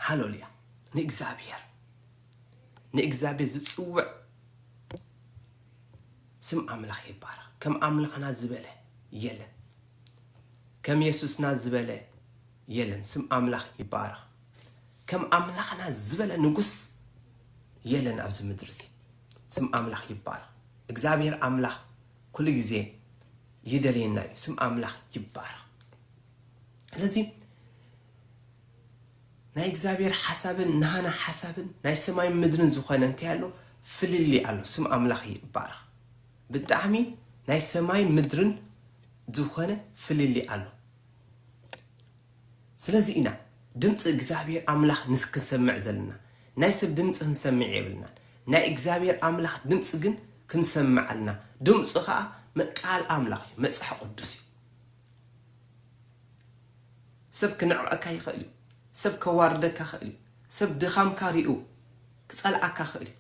ሃለሉያ። ንእግዚኣብሄር ንእግዚኣብሄር ዝጽውዕ ስም ኣምላኽ ይባረኽ። ከም ኣምላኽና ዝበለ የለን። ከም የሱስና ዝበለ የለን ስም ኣምላኽ ይባረኽ ከም ኣምላኽና ዝበለ ንጉስ የለን ኣብዚ ምድሪ እዚ ስም ኣምላኽ ይባረኽ እግዚኣብሔር ኣምላኽ ኩሉ ግዜ ይደልየና እዩ ስም ኣምላኽ ይባረኽ ስለዚ ናይ እግዚኣብሔር ሓሳብን ናህና ሓሳብን ናይ ሰማይ ምድርን ዝኾነ እንታይ ኣሎ ፍልልይ ኣሎ ስም ኣምላኽ ይባረኽ ብጣዕሚ ናይ ሰማይን ምድርን ዝኮነ ፍልልይ ኣሎ ስለዚ ኢና ድምፂ እግዚኣብሔር ኣምላክ ንክንሰምዕ ዘለና ናይ ሰብ ድምፂ ክንሰምዕ የብልናን ናይ እግዚኣብሔር ኣምላክ ድምፂ ግን ክንሰምዕ ኣልና ድምፁ ከዓ ቃል ኣምላክ እዩ መፅሓ ቅዱስ እዩ ሰብ ክነዕቀካ ይክእል እዩ ሰብ ከዋርደካ ክእል እዩ ሰብ ድካምካ ሪኡ ክፀልኣካ ክእል እዩ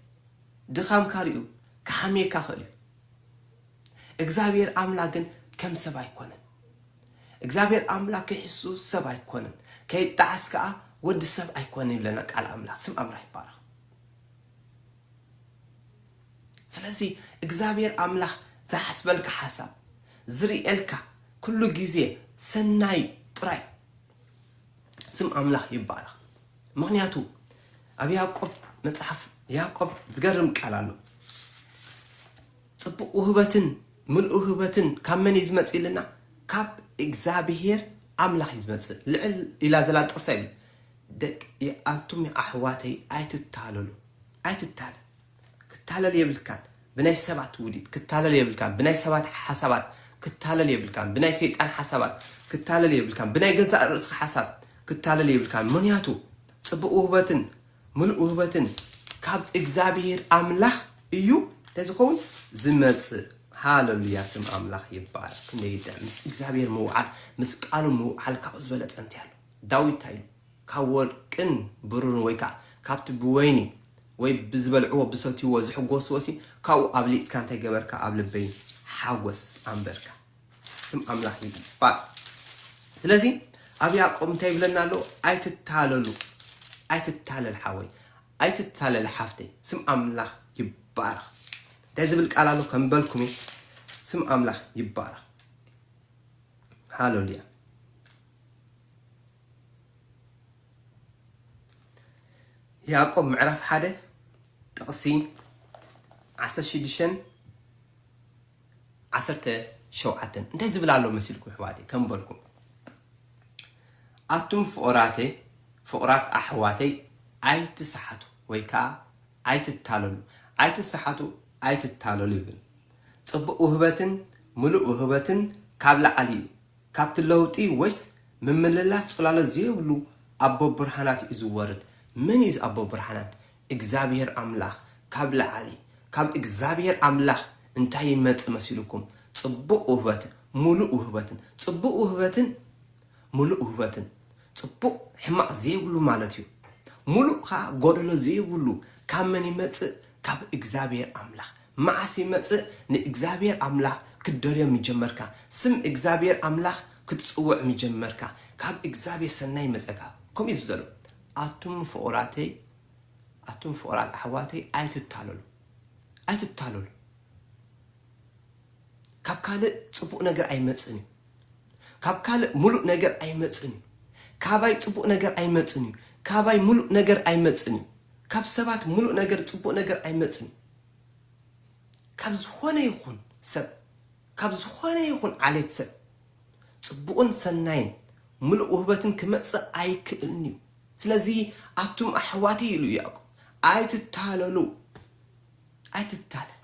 ድኻምካ ሪኡ ክሓምየካ ይኽእል እዩ እግዝኣብሄር ኣምላክ ግን ከም ሰብ ኣይኮነን እግዝኣብሄር ኣምላክ ከይሕሱ ሰብ ኣይኮነን ከይጣዓስ ከኣ ወዲ ሰብ ኣይኮነን ይብለና ቃል ኣምላክ ስም ኣምላክ ይባረኽ ስለዚ እግዝኣብሄር ኣምላክ ዝሓስበልካ ሓሳብ ዝሪኤልካ ኩሉ ግዜ ሰናይ ጥራይ ስም ኣምላኽ ይባረኽ ምኽንያቱ ኣብ ያእቆብ መጽሓፍ ያእቆብ ዝገርም ቃል ኣሎ ጽቡቅ ውህበትን ምልኡ ውህበትን ካብ መን እዩ ዝመጽእ ኢልና ካብ እግዚኣብሄር ኣምላኽ እዩ ዝመጽእ ልዕል ኢላ ዘላ ጥቅሳ ይብል ደቂ ኣንቱም ኣሕዋተይ ኣይትታለሉ ኣይትታለል ክታለል የብልካን ብናይ ሰባት ውዲት ክታለል የብልካን ብናይ ሰባት ሓሳባት ክታለል የብልካን ብናይ ሰይጣን ሓሳባት ክታለል የብልካን ብናይ ገዛእ ርእስካ ሓሳብ ክታለል የብልካን ምክንያቱ ጽቡቅ ውህበትን ምሉእ ውህበትን ካብ እግዚኣብሄር ኣምላኽ እዩ እንታይ ዝኸውን ዝመጽእ ሃለሉያ ስም ኣምላኽ ይባረክ ክንደይ ይጥዕም ምስ እግዚኣብሄር ምውዓል ምስ ቃሉ ምውዓል ካብኡ ዝበለጸ እንታይ ኣሎ ዳዊት እንታይ ኢሉ ካብ ወርቅን ብሩርን ወይ ከኣ ካብቲ ብወይኒ ወይ ብዝበልዕዎ ብሰትይዎ ዝሕጎስዎሲ ካብኡ ኣብሊጽካ እንታይ ገበርካ ኣብ ልበይ ሓጎስ ኣንበርካ ስም ኣምላኽ ይባርኽ ስለዚ ኣብ ያዕቆብ እንታይ ይብለና ኣሎ ኣይትታለሉ ኣይትታለል ሓወይ ኣይትታለል ሓፍተይ ስም ኣምላኽ ይባርኽ እንታይ ዝብል ቃል ኣሎ ከምበልኩም እየ ስም ኣምላኽ ይባረኽ ሃለሉያ ያእቆብ ምዕራፍ ሓደ ጥቕሲ ዓሰርተ ሽዱሽተን ዓሰርተ ሸውዓተን እንታይ ዝብል ኣሎ መሲልኩም ኣሕዋተይ ከም በልኩም ኣቱም ፍቑራተይ ፍቑራት ኣሕዋተይ ኣይትስሓቱ ወይ ከዓ ኣይትታለሉ ኣይትስሓቱ ኣይትታለሉ ይብል ፅቡቅ ውህበትን ምሉእ ውህበትን ካብ ላዕሊ እዩ ካብቲ ለውጢ ወይስ ምምልላስ ጽላሎት ዘይብሉ ኣቦ ብርሃናት እዩ ዝወርድ። መን እዩ እዚ ኣቦ ብርሃናት? እግዚኣብሄር ኣምላኽ ካብ ላዕሊ። ካብ እግዚኣብሄር ኣምላኽ እንታይ ይመጽእ መሲሉኩም? ጽቡቕ ውህበትን ምሉእ ውህበትን። ጽቡቕ ውህበትን ምሉእ ውህበትን። ጽቡቕ ሕማቕ ዘይብሉ ማለት እዩ። ምሉእ ከኣ ጎደሎ ዘይብሉ ካብ መን ይመጽእ? ካብ እግዚኣብሔር ኣምላክ መዓስ ይመጽእ ንእግዚኣብሔር ኣምላክ ክትደልዮ ምጀመርካ ስም እግዚኣብሔር ኣምላክ ክትጽውዕ ምጀመርካ ካብ እግዚኣብሔር ሰናይ ይመጸካ ከምኡ እዩ ዝብል ዘሎ ኣቱም ፍቁራተይ ኣቱም ፍቁራት ኣሕዋተይ ኣይትታለሉ ኣይትታለሉ። ካብ ካልእ ጽቡቅ ነገር ኣይመጽእን እዩ ካብ ካልእ ሙሉእ ነገር ኣይመጽእን እዩ ካባይ ጽቡቅ ነገር ኣይመጽእን እዩ ካባይ ሙሉእ ነገር ኣይመጽእን እዩ ካብ ሰባት ሙሉእ ነገር ጽቡቅ ነገር ኣይመጽእን እዩ ካብ ዝኾነ ይኹን ሰብ ካብ ዝኾነ ይኹን ዓሌት ሰብ ጽቡቅን ሰናይን ሙሉእ ውህበትን ክመጽእ ኣይክእልን እዩ ስለዚ ኣቱም ኣሕዋተይ ኢሉ ያዕቆብ ኣይትታለሉ ኣይትታለል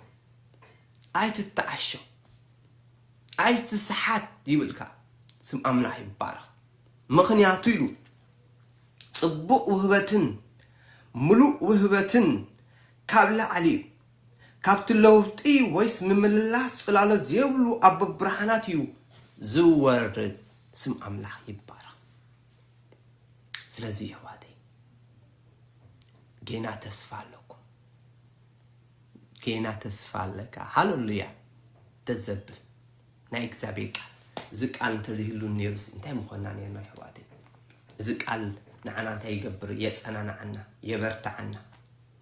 ኣይትተዓሾ ኣይትስሓት ይብልካ ስም ኣምላኽ ይባረኽ ምኽንያቱ ኢሉ ጽቡቅ ውህበትን ምሉእ ውህበትን ካብ ላዕሊ እዩ ካብቲ ለውጢ ወይስ ምምልላስ ጽላሎት ዘይብሉ ኣቦ ብርሃናት እዩ ዝወርድ ስም ኣምላኽ ይባረኽ ስለዚ የሕዋተይ ጌና ተስፋ ኣሎ ጌና ተስፋ ኣለካ ሃለሉያ ደስ ዘብል ናይ እግዚኣብሔር ቃል እዚ ቃል እንተዘይህሉ ነይሩስ እንታይ ምኾንና ነርና ኣሕዋተይ እዚ ቃል ንዓና እንታይ ይገብር የጸናንዓና የበርትዓና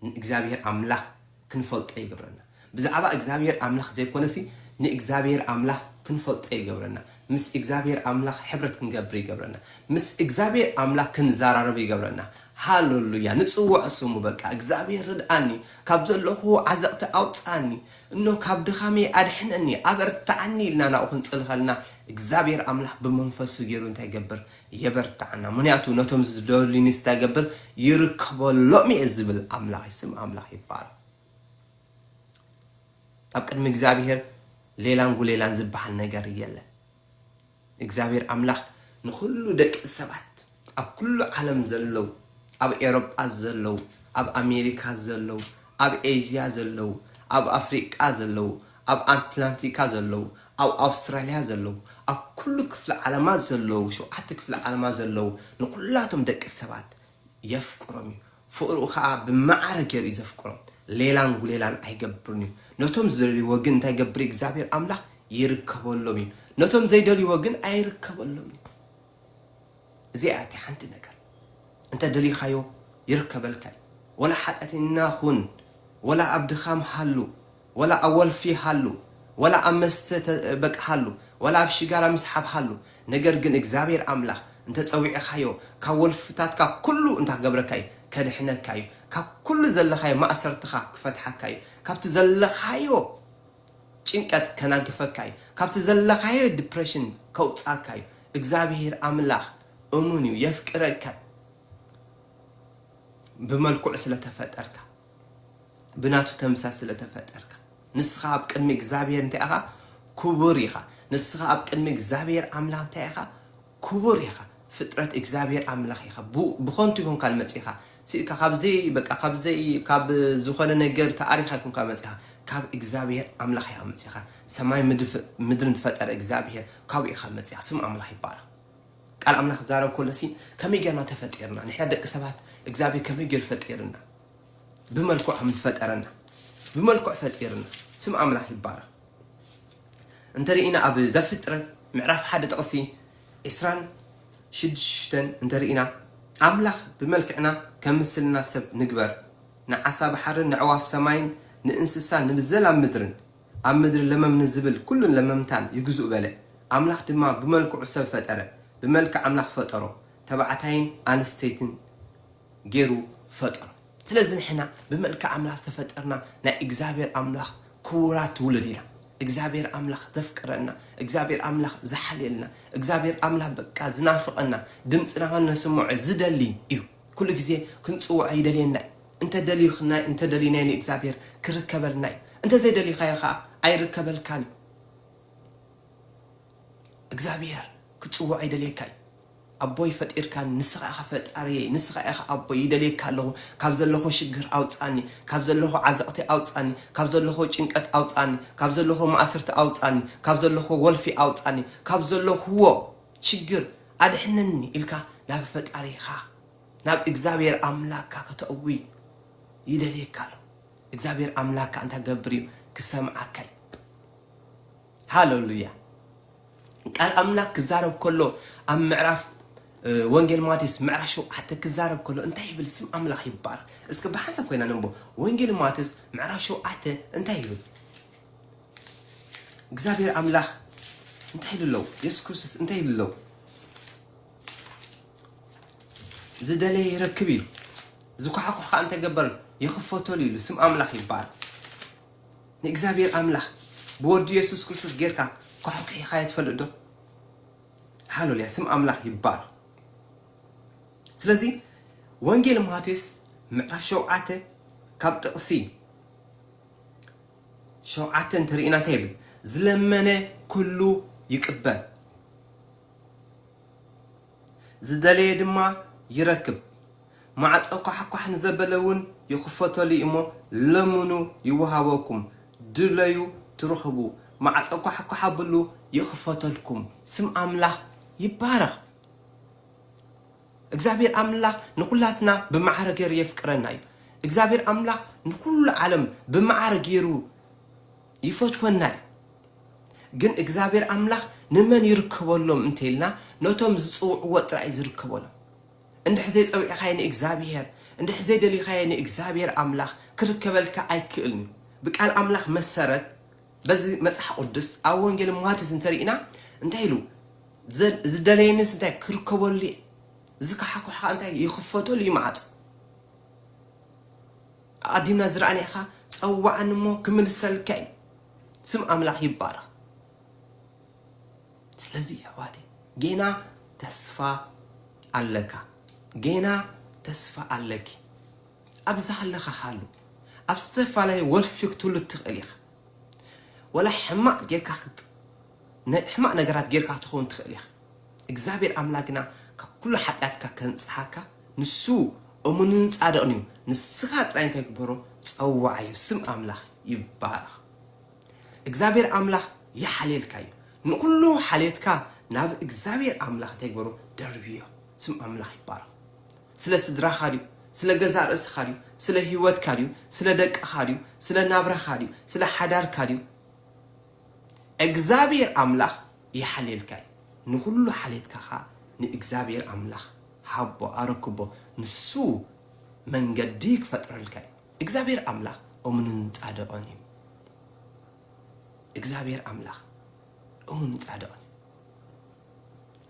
ንእግዚኣብሔር ኣምላኽ ክንፈልጦ ይገብረና ብዛዕባ እግዚኣብሔር ኣምላኽ ዘይኮነሲ ንእግዚኣብሔር ኣምላኽ ክንፈልጦ ይገብረና ምስ እግዚኣብሔር ኣምላኽ ሕብረት ክንገብር ይገብረና ምስ እግዚኣብሔር ኣምላኽ ክንዛራረብ ይገብረና ሃለሉያ ንጽውዖ ስሙ በቃ እግዚኣብሔር ርድኣኒ ካብ ዘለኹዎ ዓዘቕቲ ኣውጽኣኒ እኖ ካብ ድኻመይ ኣድሕነኒ ኣበርትዓኒ ኢልና ናብኡ ክንጽሊ ከለና እግዚኣብሔር ኣምላኽ ብመንፈሱ ጌሩ እንታይ ይገብር የበርትዓና ምክንያቱ ነቶም ዝደልዩኒስ እንታይ ይገብር ይርከበሎም እየ ዝብል ኣምላኽ እዩ ስም ኣምላኽ ይባረኽ ኣብ ቅድሚ እግዚኣብሄር ሌላን ጉሌላን ዝብሃል ነገር የለን። እግዚኣብሄር ኣምላኽ ንኹሉ ደቂ ሰባት ኣብ ኩሉ ዓለም ዘለዉ ኣብ ኤሮጳ ዘለዉ ኣብ ኣሜሪካ ዘለዉ ኣብ ኤዥያ ዘለዉ ኣብ ኣፍሪቃ ዘለዉ ኣብ ኣትላንቲካ ዘለዉ ኣብ ኣውስትራልያ ዘለዉ ኣብ ኩሉ ክፍለ ዓለማት ዘለዉ ሸውዓተ ክፍለ ዓለማት ዘለዉ ንኹላቶም ደቂ ሰባት የፍቅሮም እዩ ፍቅርኡ ከኣ ብማዕረ ጌሩ እዩ ዘፍቅሮም ሌላን ጉሌላን ኣይገብርን እዩ ነቶም ዝደልይዎ ግን እንታይ ይገብር እዩ እግዚኣብሔር ኣምላክ ይርከበሎም እዩ ነቶም ዘይደልይዎ ግን ኣይርከበሎም እዩ እዚኣ እያ እታ ሓንቲ ነገር እንተ ደሊካዮ ይርከበልካ እዩ ወላ ሓጢኣተኛ ኩን ወላ ኣብ ድኻም ሃሉ ወላ ኣብ ወልፊ ሃሉ ወላ ኣብ መስተ ተ በቃ ሃሉ ወላ ኣብ ሽጋራ ምስሓብ ሃሉ ነገር ግን እግዚኣብሔር ኣምላክ እንተ ጸዊዕኻዮ ካብ ወልፍታትካ ኩሉ እንታ ክገብረካ እዩ ከድሕነካ እዩ ካብ ኩሉ ዘለኻዮ ማእሰርትኻ ክፈትሓካ እዩ ካብቲ ዘለኻዮ ጭንቀት ከናግፈካ እዩ ካብቲ ዘለኻዮ ድፕረሽን ከውጽኣካ እዩ እግዚኣብሔር ኣምላክ እሙን እዩ የፍቅረካ እዩ ብመልክዑ ስለ ተፈጠርካ። ብናቱ ተምሳል ስለ ተፈጠርካ ንስኻ ኣብ ቅድሚ እግዚኣብሄር እንታይ ኢኻ ክቡር ኢኻ ንስኻ ኣብ ቅድሚ እግዚኣብሄር ኣምላኽ እንታይ ኢኻ ክቡር ኢኻ ፍጥረት እግዚኣብሄር ኣምላኽ ኢኻ ብኾንቱ ይኮንካ መጺኻ ስኢካ ካብ ዘይ በቃ ካብ ዘይ ካብ ዝኾነ ነገር ተኣሪኻ ይኮንካ መጺኻ ካብ እግዚኣብሄር ኣምላኽ ኢኻ መጺኻ ሰማይ ምድርን ዝፈጠረ እግዚኣብሄር ካብኡ ኢኻ መጺኻ ስም ኣምላኽ ይባረኽ ቃል ኣምላኽ ክዛረብ ከሎሲ ከመይ ጌርና ተፈጢርና ንሕና ደቂ ሰባት እግዚኣብሄር ከመይ ጌሩ ፈጢርና ብመልክዑ ከም ዝፈጠረና ብመልክዑ ፈጢርና ስም ኣምላኽ ይባረኽ እንተ ርኢና ኣብ ዘፍጥረት ምዕራፍ ሓደ ጥቕሲ ዕስራን ሽዱሽተን እንተ ርኢና ኣምላኽ ብመልክዕና ከም ምስልና ሰብ ንግበር ንዓሳ ባሕርን ነዕዋፍ ሰማይን ንእንስሳ ንብዘላ ምድርን ኣብ ምድሪ ለመም ንዚብል ኵሉን ለመምታን ይግዝኡ በለ። ኣምላኽ ድማ ብመልክዑ ሰብ ፈጠረ፣ ብመልክዕ ኣምላኽ ፈጠሮ፣ ተባዕታይን ኣንስተይትን ገይሩ ፈጠሮም። ስለዚ ንሕና ብመልክዕ ኣምላኽ ዝተፈጠርና ናይ እግዚኣብሔር ኣምላኽ ክቡራት ውሉድ ኢና። እግዚኣብሔር ኣምላኽ ዘፍቅረና፣ እግዚኣብሔር ኣምላኽ ዝሓልየልና፣ እግዚኣብሔር ኣምላኽ በቃ ዝናፍቐና፣ ድምጽና ኸነስምዖ ዝደሊ እዩ። ኩሉ ግዜ ክንጽውዖ ይደልየና እዩ። እንተ ደልዩክናዮ እንተ ደልዩናዮ ንእግዚኣብሄር ክርከበልና እዩ። እንተ ዘይደልዩካዮ ከኣ ኣይርከበልካን እዩ። እግዚኣብሄር ክትጽውዖ ይደልየካ እዩ። ኣቦይ ፈጢርካኒ ንስኻ ኢኻ ፈጣሪየይ ንስኻ ኢኻ ኣቦይ ይደልየካ ኣለኹ ካብ ዘለኹ ሽግር ኣውጻኒ ካብ ዘለኹ ዓዘቕቲ ኣውጻኒ ካብ ዘለኹ ጭንቀት ኣውጻኒ ካብ ዘለኹ ማእስርቲ ኣውጻኒ ካብ ዘለኹ ወልፊ ኣውጻኒ ካብ ዘለኹዎ ሽግር ኣድሕነኒ ኢልካ ናብ ፈጣሪኻ ናብ እግዝኣብሄር ኣምላካ ከተእዊ ይደልየካ ኣሎ እግዝኣብሄር ኣምላካ እንታይ ክገብር እዩ ክሰምዓካዩ ሃለሉያ ቃል ኣምላክ ክዛረብ ከሎ ኣብ ምዕራፍ ወንጌል ማቴዎስ ምዕራፍ ሸውዓተ ክዛረብ ከሎ እንታይ ይብል ስም ኣምላኽ ይባረክ እስኪ ብሓንሳብ ኮይና ነንቦ ወንጌል ማቴዎስ ምዕራፍ ሸውዓተ እንታይ ይብል እግዚኣብሔር ኣምላክ እንታይ ኢሉ ኣሎ የሱስ ክርስቶስ እንታይ ኢሉ ኣሎ ዝደለየ ይረክብ ኢሉ ዝኳሓኩሕ ከዓ እንታይ ገበር ይኽፈተሉ ኢሉ ስም ኣምላክ ይባረክ ንእግዚኣብሔር ኣምላክ ብወዲ የሱስ ክርስቶስ ጌርካ ኳሕኩሒካ የትፈልጥ ዶ ሃሌሉያ ስም ኣምላክ ይባረክ ስለዚ ወንጌል ማቴዎስ ምዕራፍ ሸውዓተ ካብ ጥቕሲ ሸውዓተ እንተ ርኢና እንታይ ይብል ዝለመነ ኩሉ ይቅበል ዝደለየ ድማ ይረክብ ማዕጾ ኳሕኳሕ ንዘበለ ውን ይኽፈተሉ እዩሞ ለምኑ ይወሃበኩም ድለዩ ትረኽቡ ማዕጾ ኳሕኳሕ ኣብሉ ይኽፈተልኩም ስም ኣምላኽ ይባረኽ። እግዚኣብሔር ኣምላክ ንኩላትና ብማዕረ ገይሩ የፍቅረና እዩ እግዚኣብሔር ኣምላክ ንኩሉ ዓለም ብማዕረ ገይሩ ይፈትወና እዩ ግን እግዚኣብሔር ኣምላክ ንመን ይርከበሎም እንተይልና ነቶም ዝፅውዕዎ ጥራይ እዩ ዝርከበሎም እንድሕር ዘይፀዊዕኻዮ ንእግዚኣብሔር እንድሕር ዘይደሊኻዮ ንእግዚኣብሔር ኣምላክ ክርከበልካ ኣይክእልን እዩ ብቃል ኣምላክ መሰረት በዚ መጽሓ ቁድስ ኣብ ወንጌል ማቴዎስ እንተ ርኢና እንታይ ኢሉ ዘል ዝደለየኒስ እንታይ ክርከበሉ እየ ዝከሓኩሕ ከኣ እንታይ ይኽፈተሉ እዩ መዓጹ ኣዲምና ዝረኣኒ ኢኻ ጸዋዓኒ እሞ ክምልሰልካ እዩ ስም ኣምላኽ ይባረኽ ስለዚ ኣሕዋተይ ጌና ተስፋ ኣለካ ጌና ተስፋ ኣለኪ ኣብ ዝሃለኻ ሃሉ ኣብ ዝተፋላለየ ወልፊ ክትህሉ ትኽእል ኢኻ ወላ ሕማቅ ጌርካ ክት ን ሕማቅ ነገራት ጌርካ ክትኸውን ትኽእል ኢኻ እግዚኣብሔር ኣምላክ ግና ካብ ኩሉ ሓጥያትካ ከንጽሃካ ንሱ እሙንን ጻድቅን እዩ ንስኻ ጥራይ እንታይ ግበሮ ጸውዓዮ ስም ኣምላኽ ይባረኽ እግዚኣብሔር ኣምላኽ ይሓልየልካ እዩ ንኹሉ ሓልየትካ ናብ እግዚኣብሔር ኣምላኽ እንታይ ግበሮ ደርብዮ ስም ኣምላኽ ይባረኽ። ስለ ስድራኻ ድዩ? ስለ ገዛእ ርእስኻ ድዩ? ስለ ህይወትካ ድዩ? ስለ ደቅኻ ድዩ? ስለ ናብራኻ ድዩ? ስለ ሓዳርካ ድዩ? እግዚኣብሄር ኣምላኽ ይሓልየልካ እዩ። ንኹሉ ሓልየትካ ኸኣ ንእግዚኣብሄር ኣምላኽ ሃቦ፣ ኣረክቦ፣ ንሱ መንገዲ ክፈጥረልካ እዩ። እግዚኣብሄር ኣምላኽ እሙንን ጻድቕን እዩ። እግዚኣብሄር ኣምላኽ እሙንን ጻድቕን እዩ።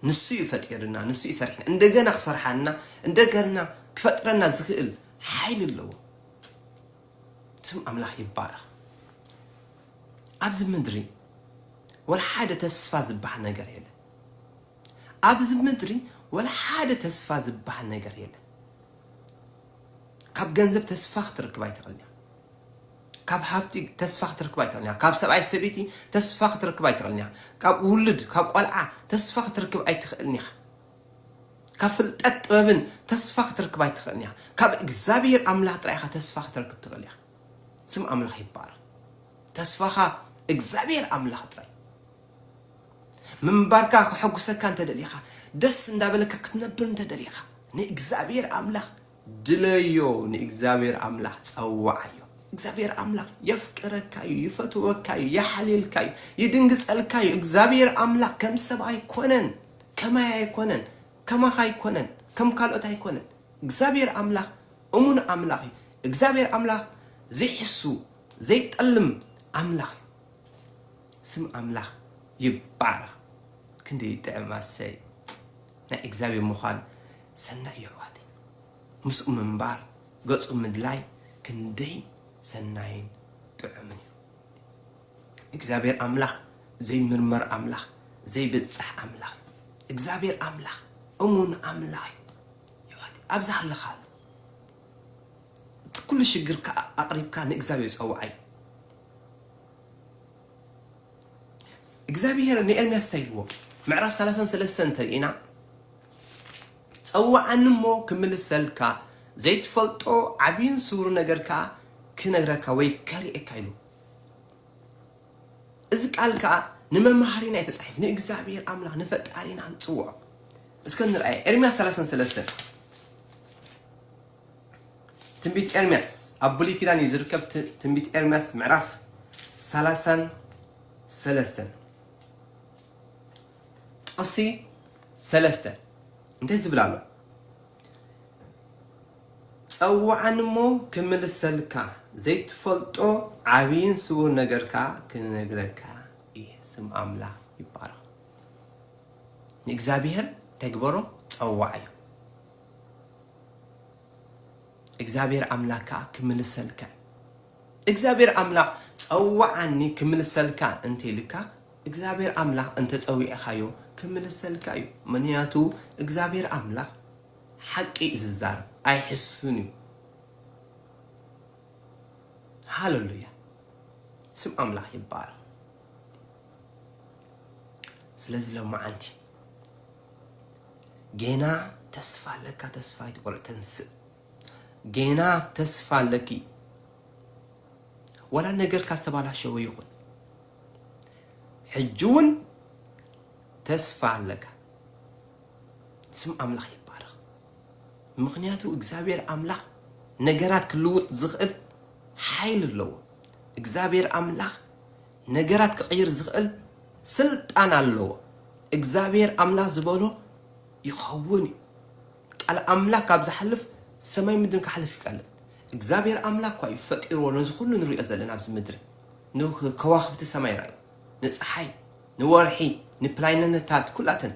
ንሱ እዩ ፈጢርና ንሱ እዩ ሰሪሕና እንደገና ክሰርሓና እንደገና ክፈጥረና ዝክእል ሓይሊ ኣለዎ ስም ኣምላኽ ይባረኽ ኣብዚ ምድሪ ወላ ሓደ ተስፋ ዝበሃል ነገር የለ ኣብዚ ምድሪ ወላ ሓደ ተስፋ ዝበሃል ነገር የለ ካብ ገንዘብ ተስፋ ክትርክብ ኣይትኽእልን ካብ ሃብቲ ተስፋ ክትረክብ ኣይትኽእልን ኢኻ። ካብ ሰብኣይ ሰበይቲ ተስፋ ክትረክብ ኣይትኽእልን ኢኻ። ካብ ውሉድ ካብ ቆልዓ ተስፋ ክትረክብ ኣይትኽእልን ኢኻ። ካብ ፍልጠት ጥበብን ተስፋ ክትረክብ ኣይትኽእልን ኢኻ። ካብ እግዚኣብሄር ኣምላኽ ጥራይ ኢኻ ተስፋ ክትረክብ ትኽእል ኢኻ። ስም ኣምላኽ ይባረኽ። ተስፋኻ እግዚኣብሄር ኣምላኽ ጥራይ ምንባርካ ከሐጉሰካ እንተደሊኻ ደስ እንዳበለካ ክትነብር እንተደሊኻ ንእግዚኣብሔር ኣምላኽ ድለዮ ንእግዚኣብሔር ኣምላኽ ጸውዓዮ እግዚኣብሔር ኣምላኽ የፍቅረካ እዩ ይፈትወካ እዩ የሓልየልካ እዩ ይድንግጸልካ እዩ እግዚኣብሔር ኣምላኽ ከም ሰብ ኣይኮነን ከማይ ኣይኮነን ከማኻ ኣይኮነን ከም ካልኦት ኣይኮነን እግዚኣብሔር ኣምላኽ እሙን ኣምላኽ እዩ እግዚኣብሔር ኣምላኽ ዘይሕሱ ዘይጠልም ኣምላኽ እዩ ስም ኣምላኽ ይባረኽ ክንደይ ይጥዕም ኣሰይ ናይ እግዚኣብሔር ምዃን ሰናይ እዩ ኣሕዋተይ ምስኡ ምንባር ገጹ ምድላይ ክንደይ ሰናይን ጥዑምን እዩ እግዚኣብሔር ኣምላኽ ዘይምርመር ኣምላኽ ዘይብጻሕ ኣምላኽ እዩ እግዚኣብሔር ኣምላኽ እሙን ኣምላኽ እዩ ኣሕዋተይ ኣብዚ ሃለኻሉ እቲ ኩሉ ሽግርካ ኣቕሪብካ ንእግዚኣብሔር ጸውዓዮ። እግዚኣብሄር ንኤርምያስ እንታይ ኢልዎ? ምዕራፍ ሰላሳን ሰለስተን እንተ ርኢና፣ ጸውዓኒ እሞ ክምልሰልካ፣ ዘይትፈልጦ ዓብይን ስውርን ነገር ከኣ ክነግረካ ወይ ከርእየካ ኢሉ። እዚ ቃል ከኣ ንመምሃሪና እዩ ተጻሒፉ፣ ንእግዚኣብሄር ኣምላኽ ንፈጣሪና ንጽውዖ። እስከ ንርኣየ ኤርምያስ ሰላሳን ሰለስተን። ትንቢት ኤርምያስ ኣብ ብሉይ ኪዳን እዩ ዝርከብ ትንቢት ኤርምያስ ምዕራፍ ሰላሳን ሰለስተን ጥቕሲ ሰለስተ እንታይ ዝብል ኣሎ ጸውዓኒ እሞ ክምልሰልካ ዘይትፈልጦ ዓብይን ስውር ነገርካ ክነግረካ እየ ስም ኣምላኽ ይባረኽ ንእግዚኣብሔር ተግበሮ ጸዋዕ እዩ እግዚኣብሔር ኣምላክ ከኣ ክምልሰልካ እዩ እግዚኣብሔር ኣምላክ ጸውዓኒ ክምልሰልካ እንተ ኢልካ እግዚኣብሔር ኣምላክ እንተጸዊዕካዮ ክምልሰልካ እዩ ምንያቱ እግዚኣብሔር ኣምላክ ሓቂ እዩ ዝዛረብ ኣይሕሱን እዩ ሃለሉያ ስም ኣምላክ ይባረክ ስለዚ ሎማዓንቲ ጌና ተስፋ ኣለካ ተስፋ ኣይትቁረፅ ተንስእ ጌና ተስፋ ኣለኪ ዋላ ነገርካ ዝተባላሸወ ይኹን ሕጂ እውን ተስፋ ኣለካ ስም ኣምላኽ ይባረኽ ምክንያቱ እግዚኣብሔር ኣምላኽ ነገራት ክልውጥ ዝኽእል ሓይል ኣለዎ እግዚኣብሔር ኣምላኽ ነገራት ክቅይር ዝክእል ስልጣን ኣለዎ እግዛብሄር ኣምላክ ዝበሎ ይከውን እዩ ቃል ኣምላክ ካብ ዝሓልፍ ሰማይ ምድርን ክሓልፍ ይቀልል እግዛብሄር ኣምላክ እኳ እዩ ፈጢርዎ ነዚ ኩሉ ንሪኦ ዘለና ኣብዚ ምድሪ ንከዋክብቲ ሰማይ ራዩ ንጽሓይ ንወርሒ ንፕላይነነታት ኩላተን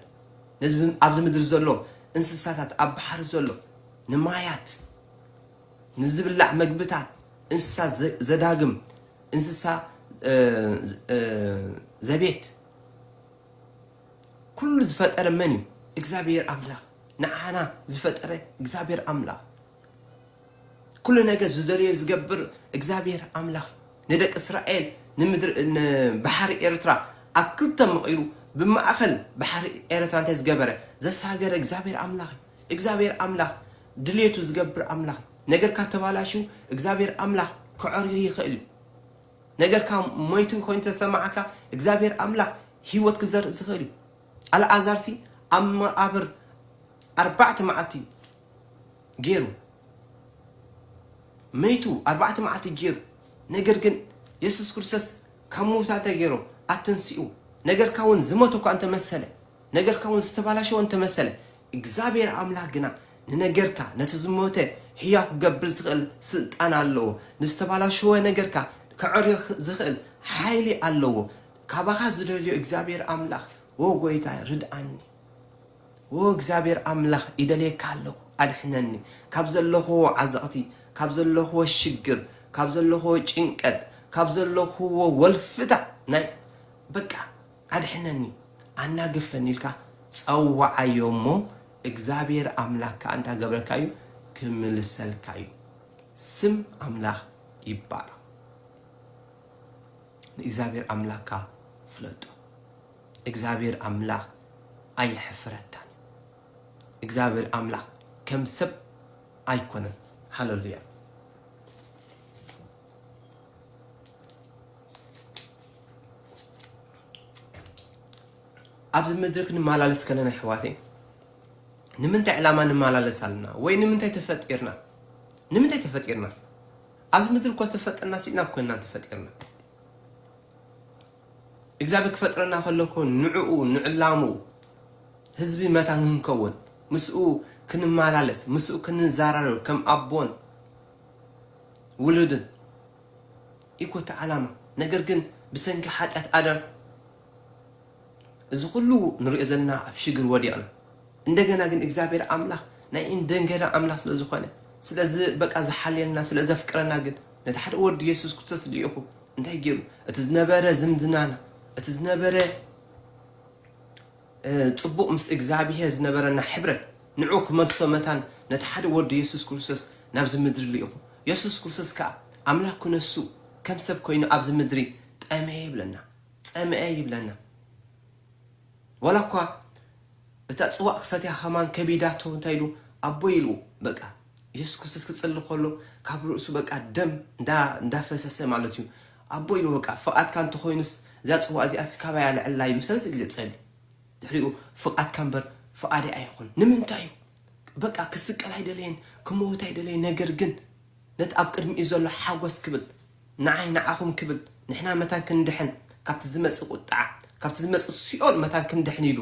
ነዚ ኣብዚ ምድሪ ዘሎ እንስሳታት ኣብ ባሕሪ ዘሎ ንማያት ንዝብላዕ መግብታት እንስሳ ዘዳግም፣ እንስሳ ዘቤት፣ ኩሉ ዝፈጠረ መን እዩ? እግዚኣብሔር ኣምላኽ። ንዓና ዝፈጠረ እግዚኣብሔር ኣምላኽ። ኩሉ ነገር ዝደልዮ ዝገብር እግዚኣብሔር ኣምላኽ ንደቂ እስራኤል ንባሕሪ ኤርትራ ኣብ ክልተ መቒሉ ብማእኸል ባሕሪ ኤርትራ እንታይ ዝገበረ ዘሳገረ እግዚኣብሔር ኣምላኽ እዩ። እግዚኣብሔር ኣምላኽ ድሌቱ ዝገብር ኣምላኽ እዩ። ነገርካ ተባላሽዩ እግዝኣብሄር ኣምላኽ ከዐርዮ ይኽእል እዩ። ነገርካ ሞይቱ ኮይኑ ተዝሰማዓካ እግዝኣብሄር ኣምላኽ ሂወት ክዘርእ ዝኽእል እዩ። ኣልኣዛርሲ ኣብ መቓብር ኣርባዕተ መዓልቲ ጌሩ መይቱ ኣርባዕተ መዓልቲ ጌሩ ነገር ግን የሱስ ክርስቶስ ካብ ምዉታት እንታይ ገይሮ ኣተንስኡ ነገርካ እውን ዝሞተ እኳ እንተመሰለ ነገርካ እውን ዝተባላሸወ እንተመሰለ እግዚኣብሄር ኣምላኽ ግና ንነገርካ ነቲ ዝሞተ ሕያው ክገብር ዝኽእል ስልጣን ኣለዎ። ንዝተባላሸወ ነገርካ ከዐርዮ ዝኽእል ሓይሊ ኣለዎ። ካባኻ ዝደልዮ እግዚኣብሄር ኣምላኽ ኦ ጎይታይ ርድኣኒ ኦ እግዚኣብሄር ኣምላኽ ይደልየካ ኣለኹ ኣድሕነኒ ካብ ዘለኹዎ ዓዘቕቲ ካብ ዘለኹዎ ሽግር ካብ ዘለኹዎ ጭንቀት ካብ ዘለኹዎ ወልፍታ ናይ በቃ ኣድሕነኒ፣ ኣናግፈኒ ኢልካ ጸውዓዮ እሞ እግዚኣብሄር ኣምላኽ ከኣ እንታይ ክገብረልካ እዩ? ክምልሰልካ እዩ። ስም ኣምላኽ ይባረኽ። ንእግዚኣብሄር ኣምላኽካ ፍለጦ። እግዚኣብሄር ኣምላኽ ኣየሕፍረካን እዩ። እግዚኣብሄር ኣምላኽ ከም ሰብ ኣይኮነን። ሃለሉያ። ኣብዚ ምድሪ ክንመላለስ ከለና ኣሕዋተይ ንምንታይ ዕላማ ንመላለስ ኣለና ወይ ንምንታይ ተፈጢርና ንምንታይ ተፈጢርና ኣብዚ ምድሪ እኮ ዝተፈጠርና ሲኢና ኮይና ተፈጢርና እግዚኣብሔር ክፈጥረና ከለኮ ንዕኡ ንዕላሙ ህዝቢ መታን ክንከውን ምስኡ ክንመላለስ ምስኡ ክንዘራረብ ከም ኣቦን ውሉድን ኢኮ እቲ ዓላማ ነገር ግን ብሰንኪ ሓጥያት ኣዳም እዚ ኩሉ ንሪኦ ዘለና ኣብ ሽግር ወዲቅና እንደገና ግን እግዚኣብሔር ኣምላክ ናይ እንደንገና ኣምላክ ስለ ዝኮነ ስለ በቃ ዝሓልየልና ስለ ዘፍቅረና ግን ነቲ ሓደ ወዱ የሱስ ክርስቶስ ልኢኩ እንታይ ገይሩ እቲ ዝነበረ ዝምድናና እቲ ዝነበረ ጽቡቕ ምስ እግዝኣብሄር ዝነበረና ሕብረት ንዕኡ ክመልሶ መታን ነቲ ሓደ ወዱ የሱስ ክርስቶስ ናብዚ ምድሪ ልኢኹ። የሱስ ክርስቶስ ከኣ ኣምላኽ ክነሱ ከም ሰብ ኮይኑ ኣብዚ ምድሪ ጠምየ ይብለና ጸምኤ ይብለና ዋላ እኳ እታ ጽዋእ ክሰትያ ከማን ከቢዳቶ እንታይ ኢሉ ኣቦይ ኢሉ በቃ የሱስ ክርስቶስ ክጽሊ ከሎ ካብ ርእሱ በቃ ደም እንዳ እንዳፈሰሰ ማለት እዩ ኣቦይ ን በቃ ፍቓድካ እንተኾይኑስ እዛ ጽዋእ እዚኣሲ ካባይ ኣልዕላ ኢሉ ሰለስተ ግዜ ጸልዩ ድሕሪኡ ፍቓድካ እምበር ፍቓደይ ኣይኹን ንምንታይ እዩ በቃ ክስቀል ኣይደለየን ክመውት ኣይደለየን ነገር ግን ነቲ ኣብ ቅድሚኡ ዘሎ ሓጎስ ክብል ንዓይ ንዓኹም ክብል ንሕና መታን ክንድሕን ካብቲ ዝመጽእ ቁጥዓ ካብቲ ዝመጽእ ሲኦል መታን ክንድሕን ኢሉ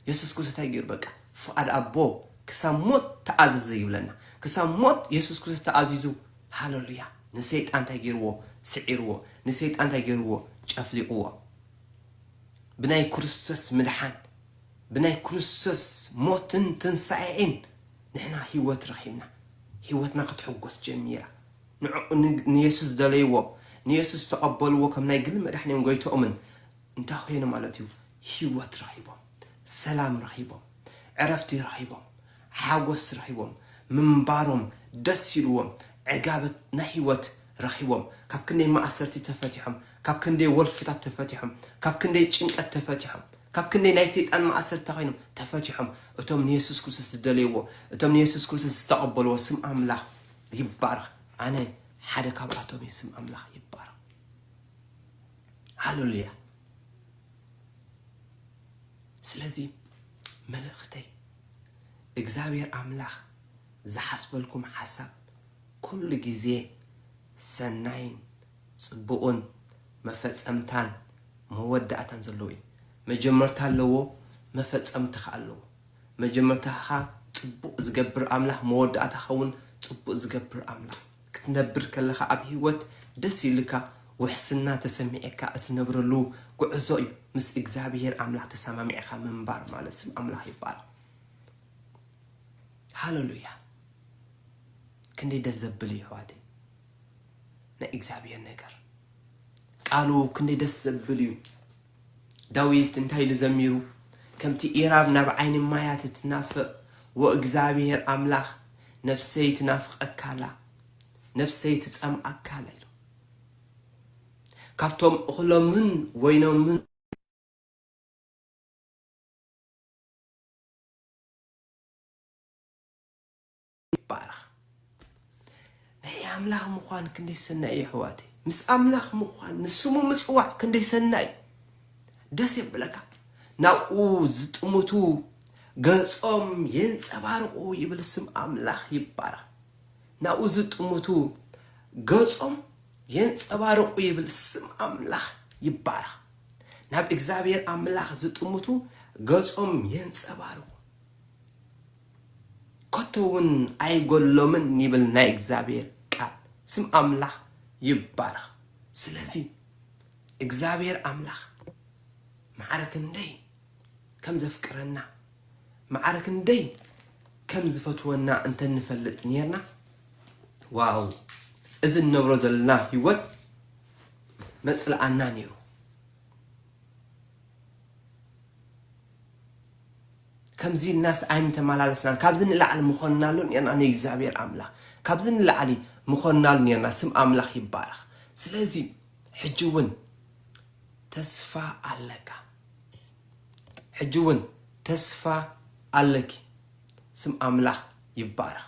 የሱስ ክርስቶስ እንታይ ገይሩ በቃ ፍቓድ ኣቦ ክሳብ ሞት ተኣዘዘ ይብለና ክሳብ ሞት የሱስ ክርስቶስ ተኣዚዙ ሃለሉያ ንሰይጣን እንታይ ገይርዎ? ስዒርዎ። ንሰይጣን እንታይ ገይርዎ? ጨፍሊቕዎ። ብናይ ክርስቶስ ምድሓን፣ ብናይ ክርስቶስ ሞትን ትንሳኤእን ንሕና ህይወት ረኺብና። ህይወትና ክትሕጎስ ጀሚራ። ንዕኡ ንየሱስ ደለይዎ። ንየሱስ ተቐበልዎ ከም ናይ ግሊ መድሓኒኦም ጎይትኦምን። እንታይ ኾይኑ ማለት እዩ? ህይወት ረኺቦም፣ ሰላም ረኺቦም፣ ዕረፍቲ ረኺቦም፣ ሓጎስ ረኺቦም፣ ምንባሮም ደስ ኢልዎም፣ ዕጋበት ናይ ህይወት ረኺቦም፣ ካብ ክንደይ ማእሰርቲ ተፈቲሖም፣ ካብ ክንደይ ወልፍታት ተፈቲሖም፣ ካብ ክንደይ ጭንቀት ተፈቲሖም፣ ካብ ክንደይ ናይ ሰይጣን ማእሰርቲ እንታይ ኮይኖም ተፈቲሖም፣ እቶም ንየሱስ ክርስቶስ ዝደለይዎ፣ እቶም ንየሱስ ክርስቶስ ዝተቐበልዎ፣ ስም ኣምላኽ ይባረኽ፣ ኣነ ሓደ ካብኣቶም እየ፣ ስም ኣምላኽ ይባረኽ። ሃለሉያ ስለዚ መልእኽተይ እግዚኣብሔር ኣምላኽ ዝሓስበልኩም ሓሳብ ኩሉ ግዜ ሰናይን ፅቡቕን መፈፀምታን መወዳእታን ዘለዎ እዩ መጀመርታ ኣለዎ መፈፀምታ ኸዓ ኣለዎ መጀመርታኻ ፅቡቕ ዝገብር ኣምላኽ መወዳእታኻ እውን ፅቡቕ ዝገብር ኣምላኽ ክትነብር ከለኻ ኣብ ህይወት ደስ ኢልካ ውሕስና ተሰሚዕካ እትነብረሉ ጉዕዞ እዩ ምስ እግዚኣብሄር ኣምላኽ ተሳማሚዕኻ ምንባር ማለት ስም ኣምላኽ ይባረኽ ሃለሉያ ክንደይ ደስ ዘብል እዩ ኣሕዋተይ ናይ እግዚኣብሄር ነገር ቃሉ ክንደይ ደስ ዘብል እዩ ዳዊት እንታይ ኢሉ ዘሚሩ? ከምቲ ኢራብ ናብ ዓይኒ ማያት እትናፍቕ፣ ወእግዚኣብሄር ኣምላኽ፣ ነፍሰይ ትናፍቐካ ኣላ፣ ነፍሰይ ትጸምኣካ ኣላ ኢሉ። ካብቶም እኽሎምን ወይኖምን። ይባረኽ። ናይ ኣምላኽ ምዃን ክንደይ ሰናይ እዩ ኣሕዋተይ። ምስ ኣምላኽ ምዃን ንስሙ ምጽዋዕ ክንደይ ሰናይ እዩ። ደስ የብለካ ናብኡ ዝጥምቱ ገጾም የንጸባርቑ ይብል ስም ኣምላኽ ይባረኽ። ናብኡ ዝጥምቱ ገጾም የንጸባርቑ ይብል ስም ኣምላኽ ይባረኽ። ናብ እግዚኣብሔር ኣምላኽ ዝጥምቱ ገጾም የንጸባርቑ። ከቶ ውን ኣይጎድሎምን ይብል ናይ እግዚኣብሄር ቃል ስም ኣምላኽ ይባረኽ ስለዚ እግዚኣብሄር ኣምላኽ ማዕረ ክንደይ ከም ዘፍቅረና ማዕረ ክንደይ ከም ዝፈትወና እንተ ንፈልጥ ኔርና ዋው እዚ ንነብሮ ዘለና ሂወት መጽልኣና ኔሩ። ከምዚ ኢልናስ ኣይምተማላለስናን ካብዚ ንላዕሊ ምኾንናሉ ኔርና ንእግዚኣብሔር ኣምላክ ካብዚ ንላዕሊ ምኾንናሉ ኔርና ስም ኣምላክ ይባረክ ስለዚ ሕጂ ውን ተስፋ ኣለካ ሕጂ ውን ተስፋ ኣለኪ ስም ኣምላክ ይባረክ።